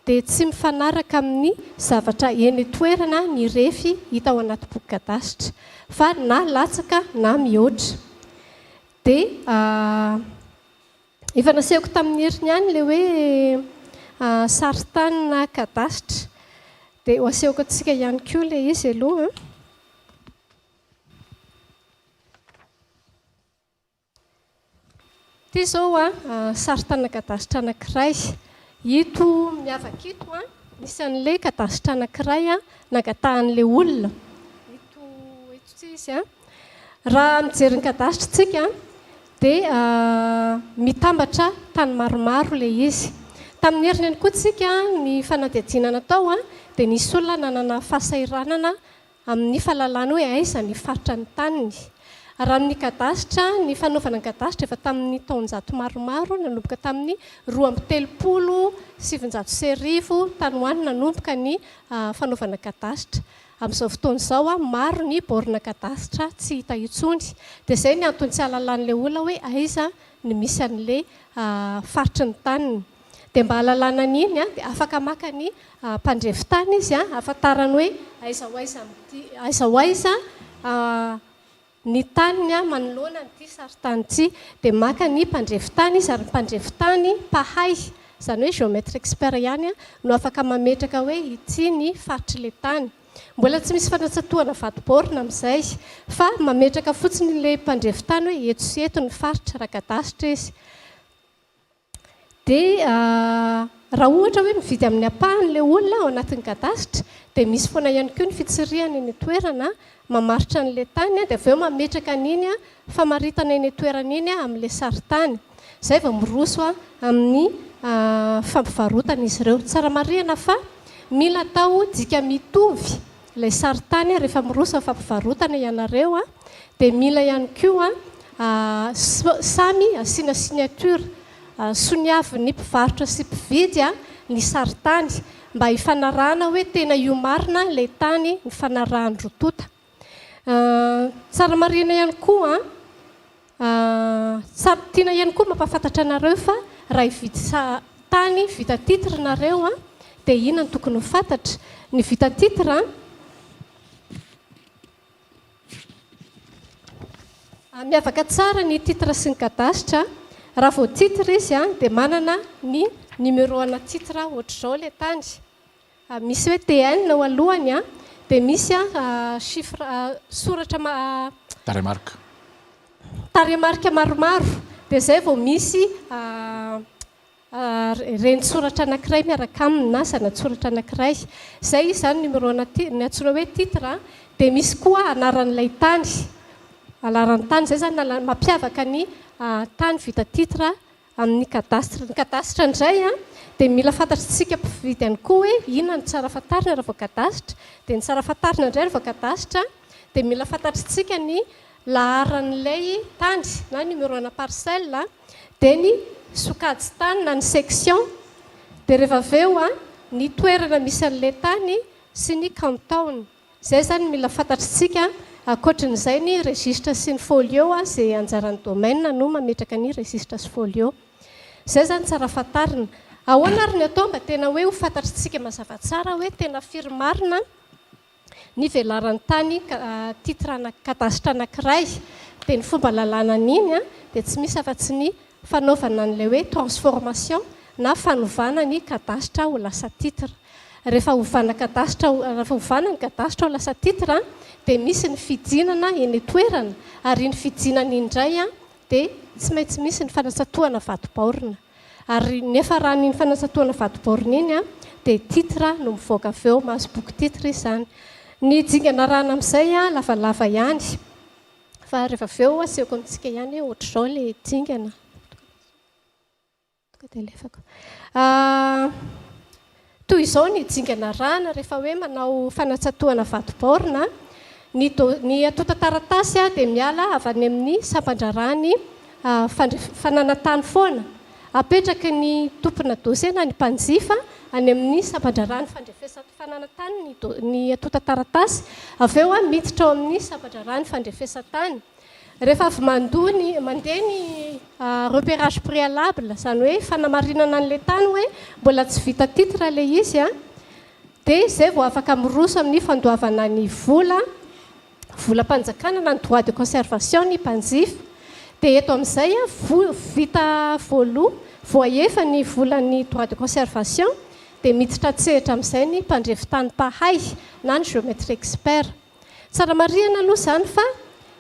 dia tsy mifanaraka amin'ny zavatra eny an-toerana ny refy hita ao anaty boky kadasitra, fa na latsaka na mihoatra. Dia efa nasehoko tamin'ny heriny ihany ilay hoe sarintany na kadasitra, dia ho asehoko antsika ihany koa ilay izy aloha. Ity izao sarin-tanana kadasitra anankiray. Ito miavaka ito, misy an'ilay kadasitra anankiray nangatahan'ilay olona. Ito ity izy. Raha mijery ny kadasitra isika dia mitambatra tany maromaro ilay izy. Tamin'ny heriny ihany koa isika ny fanadihadiana natao dia nisy olona nanana fahasahiranana Amin' ny fahalalany hoe aiza ny faritra ny taniny. Raha amin' ny kadasitra, ny fanaovana ny kadasitra efa tamin' ny taonjato maromaro, nanomboka tamin' ny roa amby telopolo sy sivinjato sy arivo, tany ho any nanomboka ny fanaovana kadasitra. Amin' izao fotoana izao, maro ny bôrina kadasitra tsy hita intsony. Dia izay ny anton-tsy ahalalan' ilay olona hoe aiza ny misy an' ilay faritry ny taniny. Dia mba hahalalana an'iny dia afaka maka ny mpandrefy tany izy hahafantarany hoe aiza ho aiza amin'ity, aiza ho aiza ny taniny manoloana an'ity sarintany ity. Dia maka ny mpandrefy tany izy ary ny mpandrefy tany mpahay, izany hoe géomètre expert ihany no afaka mametraka hoe ity ny faritr'ilay tany. Mbola tsy misy fanatsatohana vato baorina amin'izay fa mametraka fotsiny ilay mpandrefy tany hoe eto sy eto ny faritra raha kadasitra izy. Dia raha ohatra hoe mividy amin'ny ampahany ilay olona ao anatin'ny kadasitra dia misy foana ihany koa ny fitsirihana eny an-toerana mamaritra an'ilay tany dia avy eo mametraka an'iny famaritana eny an-toerana iny amin'ilay sarintany. Izay vao miroso amin'ny fampivarotana izy ireo. Tsara marihana fa mila atao dika mitovy. Ilay sarintany rehefa miroso fampivarotana ianareo dia mila ihany koa samy asiana signature soniavin'ny mpivarotra sy mpividy ny sarintany mba hifanarahana hoe tena io marina ilay tany nifanarahan-dry tota. Tsara marihina ihany koa. Ahh samy tiana ihany koa mampafantatra anareo fa raha hivitsa tany vita titre nareo an dia ina no tokony ho fatatra? Ny vita titre an ah miavaka tsara ny titre sy ny kadasitra raha vao titre izy an dia manana ny numero ana titre ohatr'izao ilay tany. Misy hoe TN eo alohany an, dia misy chiffre soratra ma Tarehimarika. Tarehimarika maromaro, dia izay vao misy reni-tsoratra anankiray miaraka aminy na zana-tsoratra anankiray. Izay izy izany numéro na ti- ny antsoina hoe titre an, dia misy koa anaran'ilay tany, alaran-tany. Izay izany lala- mampiavaka ny tany vita titre amin'ny cadastre. Ny cadastre indray dia mila fantatr'isika mpividy ihany koa hoe inona no tsara fantarina raha vao cadastre. Dia ny tsara fantarina indray raha vao cadastre dia mila fantatr'isika ny laharan'ilay tany na numéro ana parcelle, dia ny sokajin-tany na ny section, dia rehefa avy eo ny toerana misy an'ilay tany sy ny kantaona. Izay izany no mila fantatr'isika. Ankoatrin'izay ny registre sy ny folio izay anjaran'ny domaine no mametraka ny registre sy folio. Izay izany tsara fantarina. Ahoana ary ny atao mba tena hoe ho fantatr'isika mazava tsara hoe tena firy marina ny velaran'ny tany titre anakadasitra anakiray. Dia ny fomba lalàna an'iny dia tsy misy afa-tsy ny fanaovana an'ilay hoe transformation na fanovana ny kadasitra ho lasa titre. Rehefa ovana kadasitra, rehefa ovana ny kadasitra ho lasa titre dia misy ny fijinana eny an-toerana ary iny fijinana iny indray dia tsy maintsy misy ny fanatsatohana vatobaorina ary ny hafaran'iny fanatsatohana vatobaorina iny dia titre no mivoaka avy eo, mahazo boky titre izy izany. Ny dingana arahana amin'izay lavalava ihany. Fa rehefa avy eo asehoko amintsika ihany hoe ohatr'izao ilay dingana. Tonga dia alefako. Ah, toy izao ny dingana arahana rehefa hoe manao fanatsatohana vato baorina. Ny, do, ny antontan-taratasy dia miala avy any amin'ny sampan-draharahan'ny ah, fandref, fananantany foana. Apetraky ny tompona dosena ny mpanjifa any amin'ny sampan-draharahan'ny fandrefesan'ny fananantany ny do, ny antontan-taratasy, avy eo miditra ao amin'ny sampan-draharahan'ny fandrefesan-tany. Rehefa avy mandoa ny, mandeha ny repérage préalable, izany hoe fanamarinana an'ilay tany hoe mbola tsy vita titre ilay izy, dia izay vao afaka miroso amin'ny fandoavana ny vola. volam-panjakana na ny droit de conservation ny mpanjifa dia eto amin'izay vita voaloa voahefa ny volan'ny droit de conservation dia miditra an-tsehatra amin'izay ny mpandrefy tany mpahay na ny géomètre expert. Tsara marihana aloha izany fa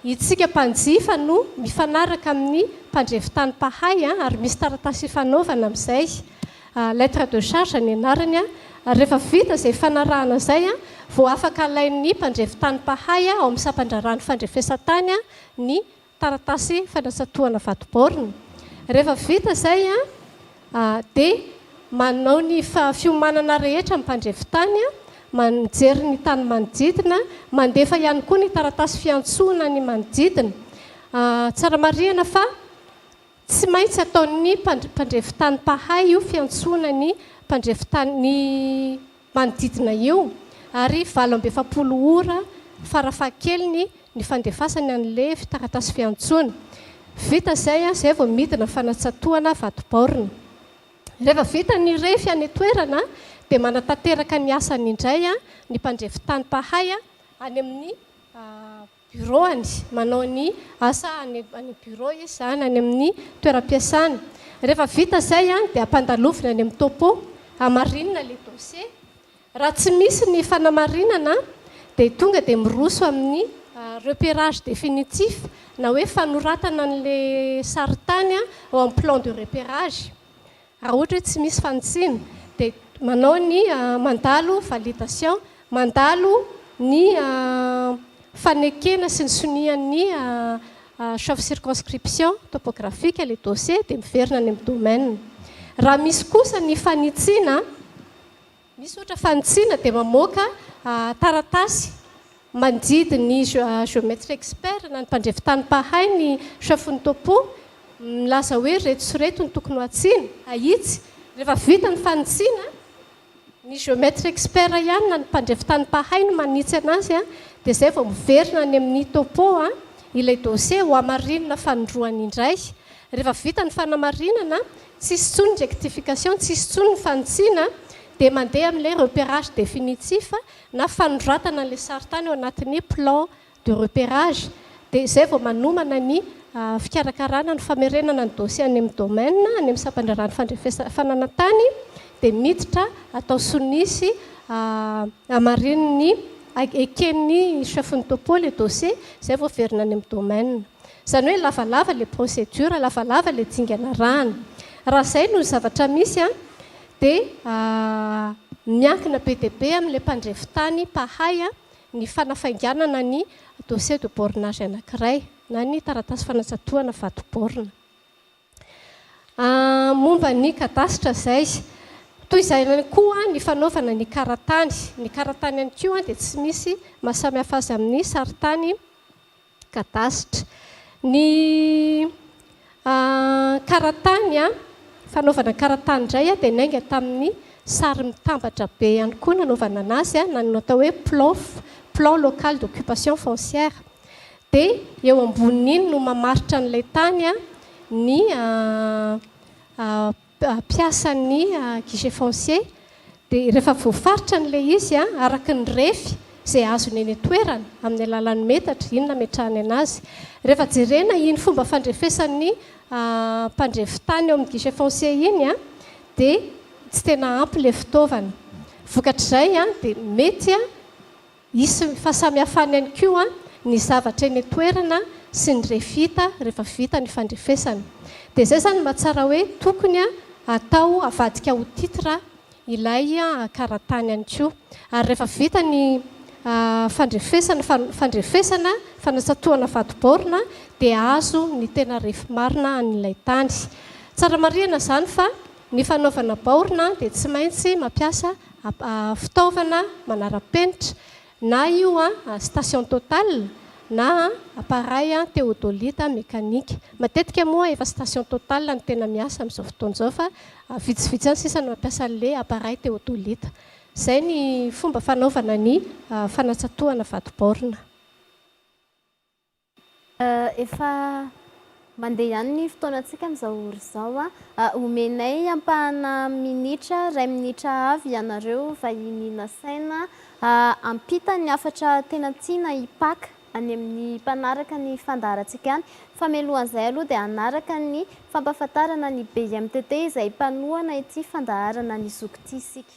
itsika mpanjifa no mifanaraka amin'ny mpandrefy tany mpahay ary misy taratasy ifanaovana amin'izay. Lettre de charge ny anarany ary rehefa vita izay fanarahana izay vao afaka alain'ny mpandrefy tany mpahay ao amin'ny sampan-draharahan'ny fandrefesan-tany ny taratasy fanatsato-hana vato baorina. Rehefa vita izay dia manao ny fiomanana rehetra ny mpandrefy tany, mijery ny tany manodidina, mandefa ihany koa ny taratasy fiantsoana ny manodidina. Tsara marihina fa. Tsy maintsy ataon'ny mpandrefitany mpahay io fiantsoana ny mpandrefitany manodidina io ary valo amby efapolo ora farafahakeliny ny fandefasany an'i Levy taratasy fiantsoana. Vita izay, izay vao midina fanatsatohana vato-baorina. Rehefa vita ny refy any an-toerana dia manatanteraka ny asany indray ny mpandrefitany mpahay any amin'ny birôany, manao ny asa any amin'ny birô izy sa any amin'ny toeram-piasany. Rehefa vita izay dia ampandalovina any amin'ny topo, hamarinina ilay dossier. Raha tsy misy ny fanamarinana dia tonga dia miroso amin'ny repérage définitif na hoe fanoratana an'ilay sarintany ao amin'ny plan de repérage. Raha ohatra hoe tsy misy fanitsiana dia manao ny mandalo validation, mandalo ny fanekena sy ny sonian'ny chef circonscription topographique ilay dossier dia miverina any amin'ny domaine. Raha misy kosa ny fanitsiana, Misaotra fanitsiana dia mamoaka taratasy mandidy ny Geometre Expert na ny mpandrefy tany mpahay ny Chafon'ny Topo milaza hoe ireto sy ireto no tokony ho hatsiana, ahitsy. Rehefa vita ny fanitsiana, ny Geometre Expert ihany na ny mpandrefy tany mpahay no manitsy anazy dia izay vao miverina any amin'ny Topo ilay dosie hohamarinina fanindroany indray. Rehefa vita ny fanamarinana Tsisy intsony ny rectification, tsisy intsony ny fanitsiana dia mandeha amin'ilay repérage définitif na fanoratana an'ilay sarintany ao anatin'ny plan de repérage dia izay vao manomana ny fikarakarana ny famerenana ny dossier any amin'ny domaine, any amin'ny sampandraharahan'ny fandrefesana fananantany dia miditra atao sonia sy hamarinin'ny eken'ny chef-ny topo ilay dossier izay vao averina any amin'ny domaine. Izany hoe lavalava ilay procédure, lavalava ilay dingana arahana. Raha izay no zavatra misy dia miankina be dia be amin'ilay mpandrefy tany mpahay ny fanafainganana ny dossier de bornage anankiray na ny taratasy fanatsatohana vato borne. Momba ny kadasitra izay, toy izay ihany koa ny fanaovana ny karatany. Ny karatany ihany koa dia tsy misy maha samihafa azy amin'ny sarintany. kadasitra. Ny karatany fanaovana karatany indray dia niainga tamin'ny sary mitambatra be ihany koa nanaovana anazy na ny atao hoe PLOF, plan local d'occupation foncière. Dia eo ambonin'iny no mamaritra an'ilay tany ny mpiasan'ny guichet foncier dia rehefa voafaritra an'ilay izy araka ny refy izay azony eny an-toerana amin'ny alalan'ny metatra iny nametrahany anazy. Rehefa jerena iny fomba fandrefesan'ny mpandrefy tany eo amin'ny guichet foncier iny dia tsy tena ampy ilay fitaovana. Vokatr'izay dia mety Hisy ny fahasamihafany ihany koa ny zavatra eny an-toerana sy ny refita rehefa vita ny fandrefesana. Dia izay izany no mahatsara hoe tokony atao havadika ho titre ilay karatany ihany koa. Ary rehefa vita ny fandrefesana, fandrefesana, fanatsatohana vadi-baorina dia azo ny tena refy marina an'ilay tany. Tsara marihana izany fa ny fanaovana baorina dia tsy maintsy mampiasa fitaovana manara-penitra, na io station Total na appareil theodolite mécanique. Matetika moa efa station Total no tena miasa amin'izao fotoana izao fa vitsivitsy ihany sisa no mampiasa an'ilay appareil theodolite. Izay ny fomba fanaovana ny fanatsatohana vato-baorina. Efa mandeha ihany ny fotoanantsika amin'izao ora izao. Omenay ampahana minitra, iray minitra avy ianareo vahiny nasaina hampita ny hafatra tena tiana hipaka any amin'ny mpanaraka ny fandaharantsika any. Famelohan'izay aloha dia hanaraka ny fampahafantarana ny BIMTT izay mpanohana ity fandaharana ny zoky ity isika.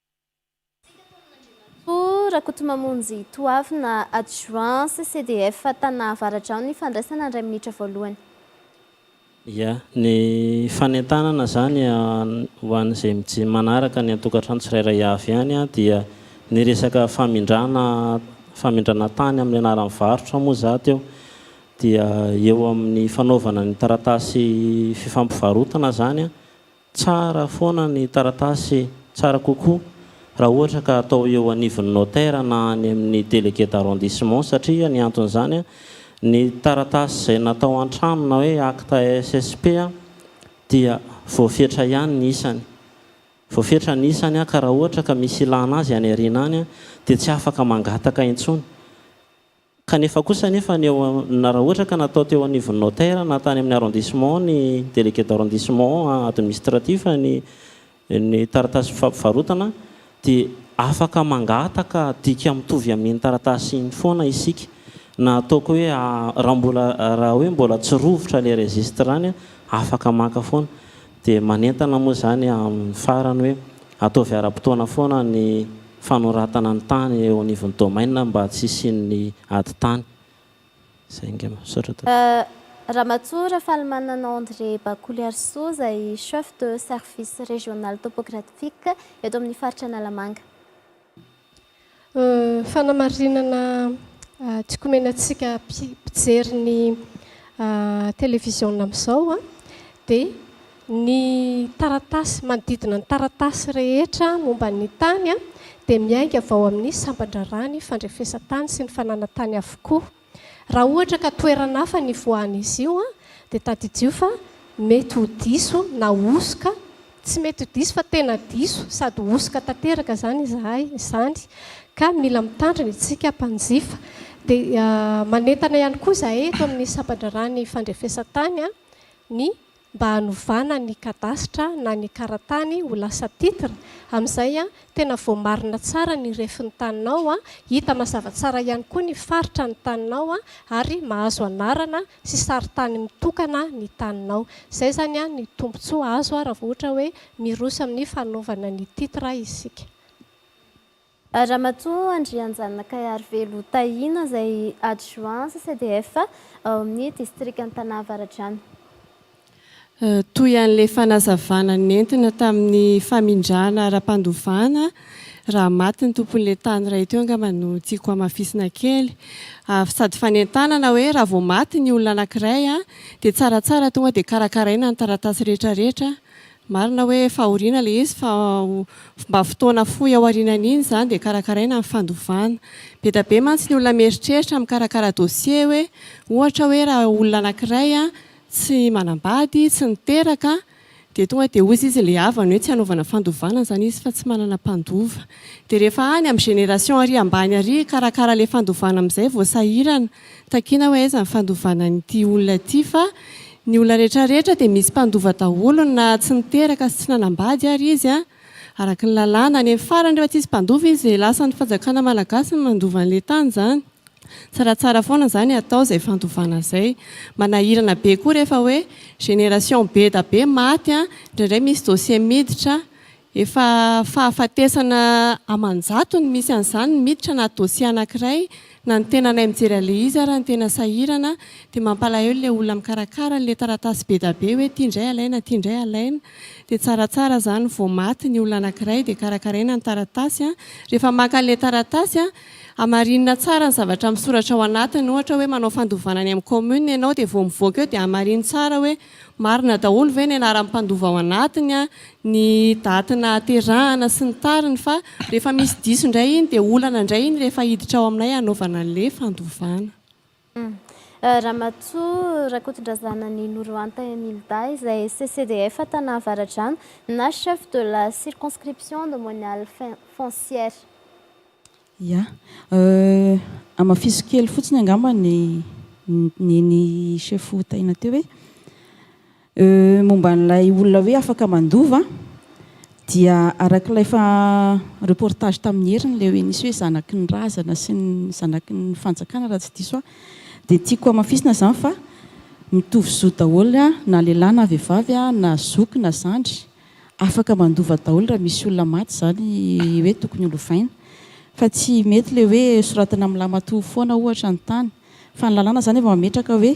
Andriamatoa Rakotomamonjy Toavina, Adjoint CCDF Tana Avaratra ao ny fandraisana ny iray minitra voalohany. Ia. Ny fanentanana izany ho an'izay mij manaraka any an-tokantrano tsirairay avy any dia ny resaka famindrana famindrana tany amin'ny anaran'ny varotra moa za teo dia eo amin'ny fanaovana ny taratasy fifampivarotana izany Tsara foana ny taratasy, tsara kokoa raha ohatra ka atao eo anivon'ny notaire na any amin'ny délégué d'arrondissement satria ny anton'izany ny taratasy izay natao an-trano na hoe acte SSP dia voafetra ihany ny isany, voafetra ny isany ka raha ohatra ka misy ilàna azy any aoriana any dia tsy afaka mangataka intsony. Kanefa kosa anefa ny eo na raha ohatra ka natao teo anivon'ny notaire na tany amin'ny arrondissement ny délégué d'arrondissement administratif ny ny taratasy fampivarotana dia afaka mangataka dika mitovy amin'iny taratasy iny foana isika na ataoko hoe raha mbola raha hoe mbola tsy rovitra ilay registre any afaka maka foana Dia manentana moa izany amin'ny farany hoe ataovy ara-potoana foana ny fanoratana ny tany eo anivon'ny domaine mba tsy hisian'ny ady tany. Izay ange. Misaotra tompoko. Ramatoa Rafalimanana André Bakoliarisoa izay Chef de Service Régional Topographique eto amin'ny Faritra Analamanga. Fanamarinana tsy komenantsika mpijery ny televiziona amin'izao dia ny taratasy, manodidina ny taratasy rehetra momba ny tany dia miainga avy ao amin'ny sampan-draharaha ny fandrefesan-tany sy ny fananantany avokoa. Raha ohatra ka toerana hafa ny ifoahan'izy io dia tadidio fa mety ho diso na hosoka, tsy mety ho diso fa tena diso sady hosoka tanteraka izany izahay izany ka mila mitandrina isika mpanjifa. Dia manentana ihany koa izahay eto amin'ny Sampan-draharahan'ny Fandrefesan-tany ny mba hanovana ny kadasitra na ny karatany ho lasa titre, amin'izay tena voamarina tsara ny refin'ny taninao, hita mazava tsara ihany koa ny faritra ny taninao ary mahazo anarana sy sarintany mitokana ny taninao. Izay izany ny tombontsoa azo raha vao ohatra hoe miroso amin'ny fanaovana ny titre isika. Ramatoa Andrianjanona Kaiarivelo Tahiana izay adjoint CCDF ao amin'ny distrikan'Tana Avaradrano. Toy an'ilay fanazavana nentina tamin'ny famindrana ara-pandovana raha maty ny tompon'ilay tany iray teo angamba no tiako hamafisina kely ary sady fanentanana hoe raha vao maty ny olona anankiray dia tsaratsara tonga dia karakaraina ny taratasy rehetrarehetra Marina hoe fahoriana ilay izy fa mba fotoana fohy aorianan'iny izany dia karakaraina ny fandovana. Be dia be mantsy ny olona mieritreritra mikarakara dossier hoe ohatra hoe raha olona anankiray tsy manambady, tsy niteraka dia tonga dia hozy izy ilay havany hoe tsy hanaovana fandovana izany izy fa tsy manana mpandova. Dia rehefa any amin'ny génération ary ambany ary hikarakara ilay fandovana amin'izay vao sahirana. Takiana hoe aiza ny fandovana an'ity olona ity fa ny olona rehetra rehetra dia misy mpandova daholo na tsy niteraka sy tsy nanambady ary izy araka ny lalàna any amin'ny farany rehefa tsisy mpandova izy dia lasan'ny fanjakana malagasy ny mandova an'ilay tany izany tsaratsara foana izany atao izay fandovana izay manahirana be koa rehefa hoe génération beda be maty indraindray misy dossier miditra Efa fahafatesana aman-jato ny misy an'izany, ny miditra na dossier anankiray na ny tenanay mijery an'ilay izy ary ny tena sahirana dia mampalahelo ilay olona mikarakara an'ilay taratasy bedabe hoe ity indray alaina ity indray alaina dia tsaratsara izany vao maty ny olona anankiray dia karakaraina ny taratasy rehefa maka an'ilay taratasy hamarinina tsara ny zavatra misoratra ao anatiny ohatra hoe manao fandovana any amin'ny commune ianao dia vao mivoaka eo dia hamarino tsara hoe Marina daholo ve ny anaran'ny mpandova ao anatiny an, ny daty nahaterahana sy ny tariny fa rehefa misy diso indray iny dia olana indray iny rehefa hiditra ao aminay hanaovana an'le fandovana. Ramatoa Rakotondrazana Ninoro Anta Emilda izay CCDF Tana Avaradrano na chef de la circonscription domoniale foncière. Ia. Hamafiso kely fotsiny angamba ny nen'i chef Taina teo hoe momba an'ilay olona hoe afaka mandova dia arak'ilay efa reportage tamin'ny heriny ilay hoe nisy hoe zanaky ny razana sy ny zanaky ny fanjakana raha tsy diso aho dia tiako hamafisina izany fa mitovy zo daholo na lehilahy na vehivavy na zoky na zandry Afaka mandova daholo raha misy olona maty izany hoe tokony ho lovaina. Fa tsy mety ilay hoe soratana amin'ny lamatoa foana ohatra ny tany. Fa ny lalàna izany efa mametraka hoe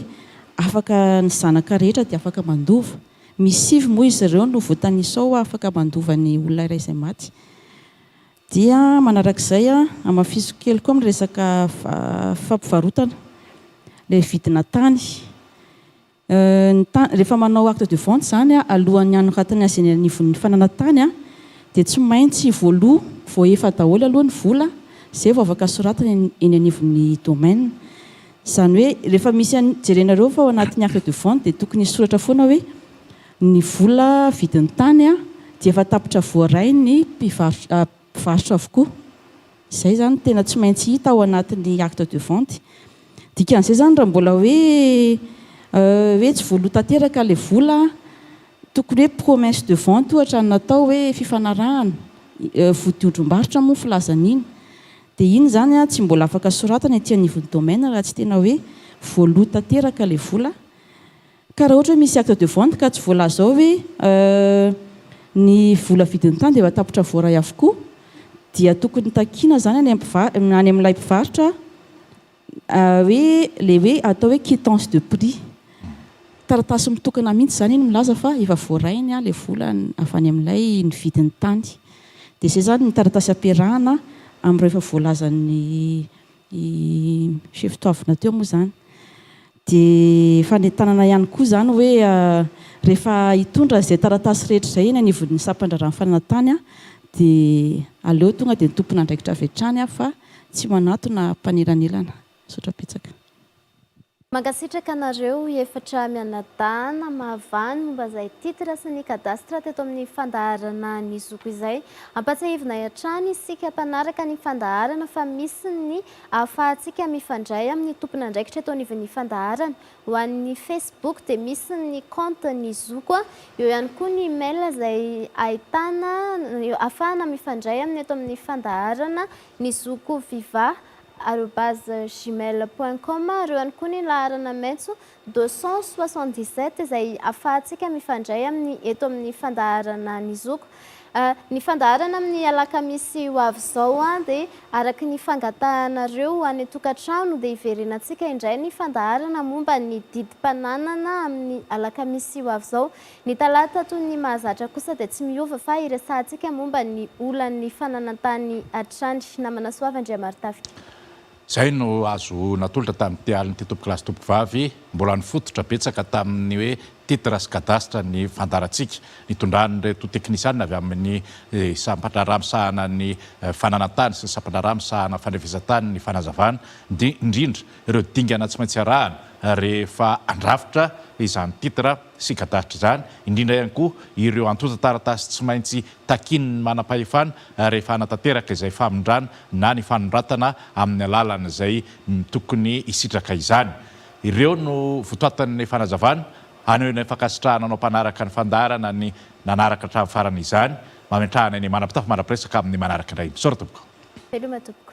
afaka ny zanaka rehetra dia afaka mandova. Misy sivy moa izy ireo no voatanisa ao afaka mandova ny olona iray izay maty. Dia manarak'izay hamafisiko kely koa amin'ny resaka fampivarotana ilay vidina tany. Ny tany, rehefa manao acte de vente izany alohan'ny hanoratana azy eny anivon'ny fanana tany dia tsy maintsy voaloa voaefa daholo aloha ny vola izay vao afaka soratana eny anivon'ny domaine. Izany hoe rehefa misy an'i, jerenareo fa ao anatin'ny acte de vente dia tokony hisoratra foana hoe ny vola vidin'ny tany dia efa tapitra voaray ny mpivarotra, mpivarotra avokoa. Izay izany no tena tsy maintsy hita ao anatin'ny acte de vente. Dikan'izay izany raha mbola hoe hoe tsy voaloha tanteraka ilay vola, tokony hoe promesse de vente ohatra no natao hoe fifanarahana, vodiondrom-barotra moa ny filazan'iny. Dia iny izany tsy mbola afaka soratana ety anivon'ny domaine raha tsy tena hoe voaloha tanteraka ilay vola. Ka raha ohatra hoe misy acte de vente ka tsy voalaza ao hoe ny vola vidin'ny tany dia efa tapitra voaray avokoa dia tokony takiana izany any amin'ny any amin'ilay mpivarotra hoe ilay hoe atao hoe quittance de prix. Taratasy mitokana mihitsy izany iny milaza fa efa voaray ny ilay vola avy any amin'ilay nividy ny tany. Dia izay izany ny taratasy ampiarahana amin'ireo efa voalazan'ny chef toavina teo moa izany. Dia fanentanana ihany koa izany hoe rehefa hitondra izay taratasy rehetra izay eny anivon'ny sampan-draharahan'ny fananantany dia aleo tonga dia ny tompon'andraikitra avy hatrany fa tsy manatona mpanelanelana. Misaotra betsaka. Mankasitraka anareo efatra mianadahy namahavaly momba izay titre sy ny cadastre teto amin'ny fandaharana ny zoky izay. Ampatsiahivina hatrany isika mpanaraka ny fandaharana fa misy ny ahafahantsika mifandray amin'ny tompon'andraikitra eto anivon'ny fandaharana. Ho an'ny Facebook dia misy ny compte ny zoko, eo ihany koa ny email izay ahitana ahafahana mifandray aminy eto amin'ny fandaharana ny zoko viva arobase gmail point com ary eo ihany koa ny laharana maitso deux cent soixante-dix-sept izay afahantsika mifandray aminy eto amin'ny fandaharana Ny Zoky. Ny fandaharana amin'ny alakamisy ho avy izao dia araka ny fangatahanareo ho any an-tokantrano dia hiverenantsika indray ny fandaharana momba ny didim-pananana amin'ny alakamisy ho avy izao. Ny talata toy ny mahazatra kosa dia tsy miova fa hiresahantsika momba ny olan'ny fananan-tany hatrany. Namana Soava Andriamaritafika. Izay no azo natolotra tamin'ity alin'ity tompokolahy sy tompokovavy mbola nifototra betsaka tamin'ny hoe titre sy cadastre ny fandaharantsika nitondran'ireto teknisianina avy amin'ny sampandraharaha misahana ny fananantany sy ny sampandraharaha misahana fandrafesantany ny fanazavana indrindra ireo dingana tsy maintsy arahana rehefa handrafitra izany titre sy gadàtr' izany indrindra ihany koa ireo antontan-taratasy tsy maintsy takin' ny manam-pahefana rehefa hanatanteraka izay famindrana na ny fanondratana amin' ny alalan' izay tokony hisitraka izany. Ireo no votoatan' ny fanazavana haneho ilay fankasitrahana anao mpanaraka ny fandaharana ny nanaraka hatramin' farany izany. Mametraha anay ny manam-pitafy mandrapiresaka amin' ny manaraka indray. Misaotra tompoko. Veloma tompoko.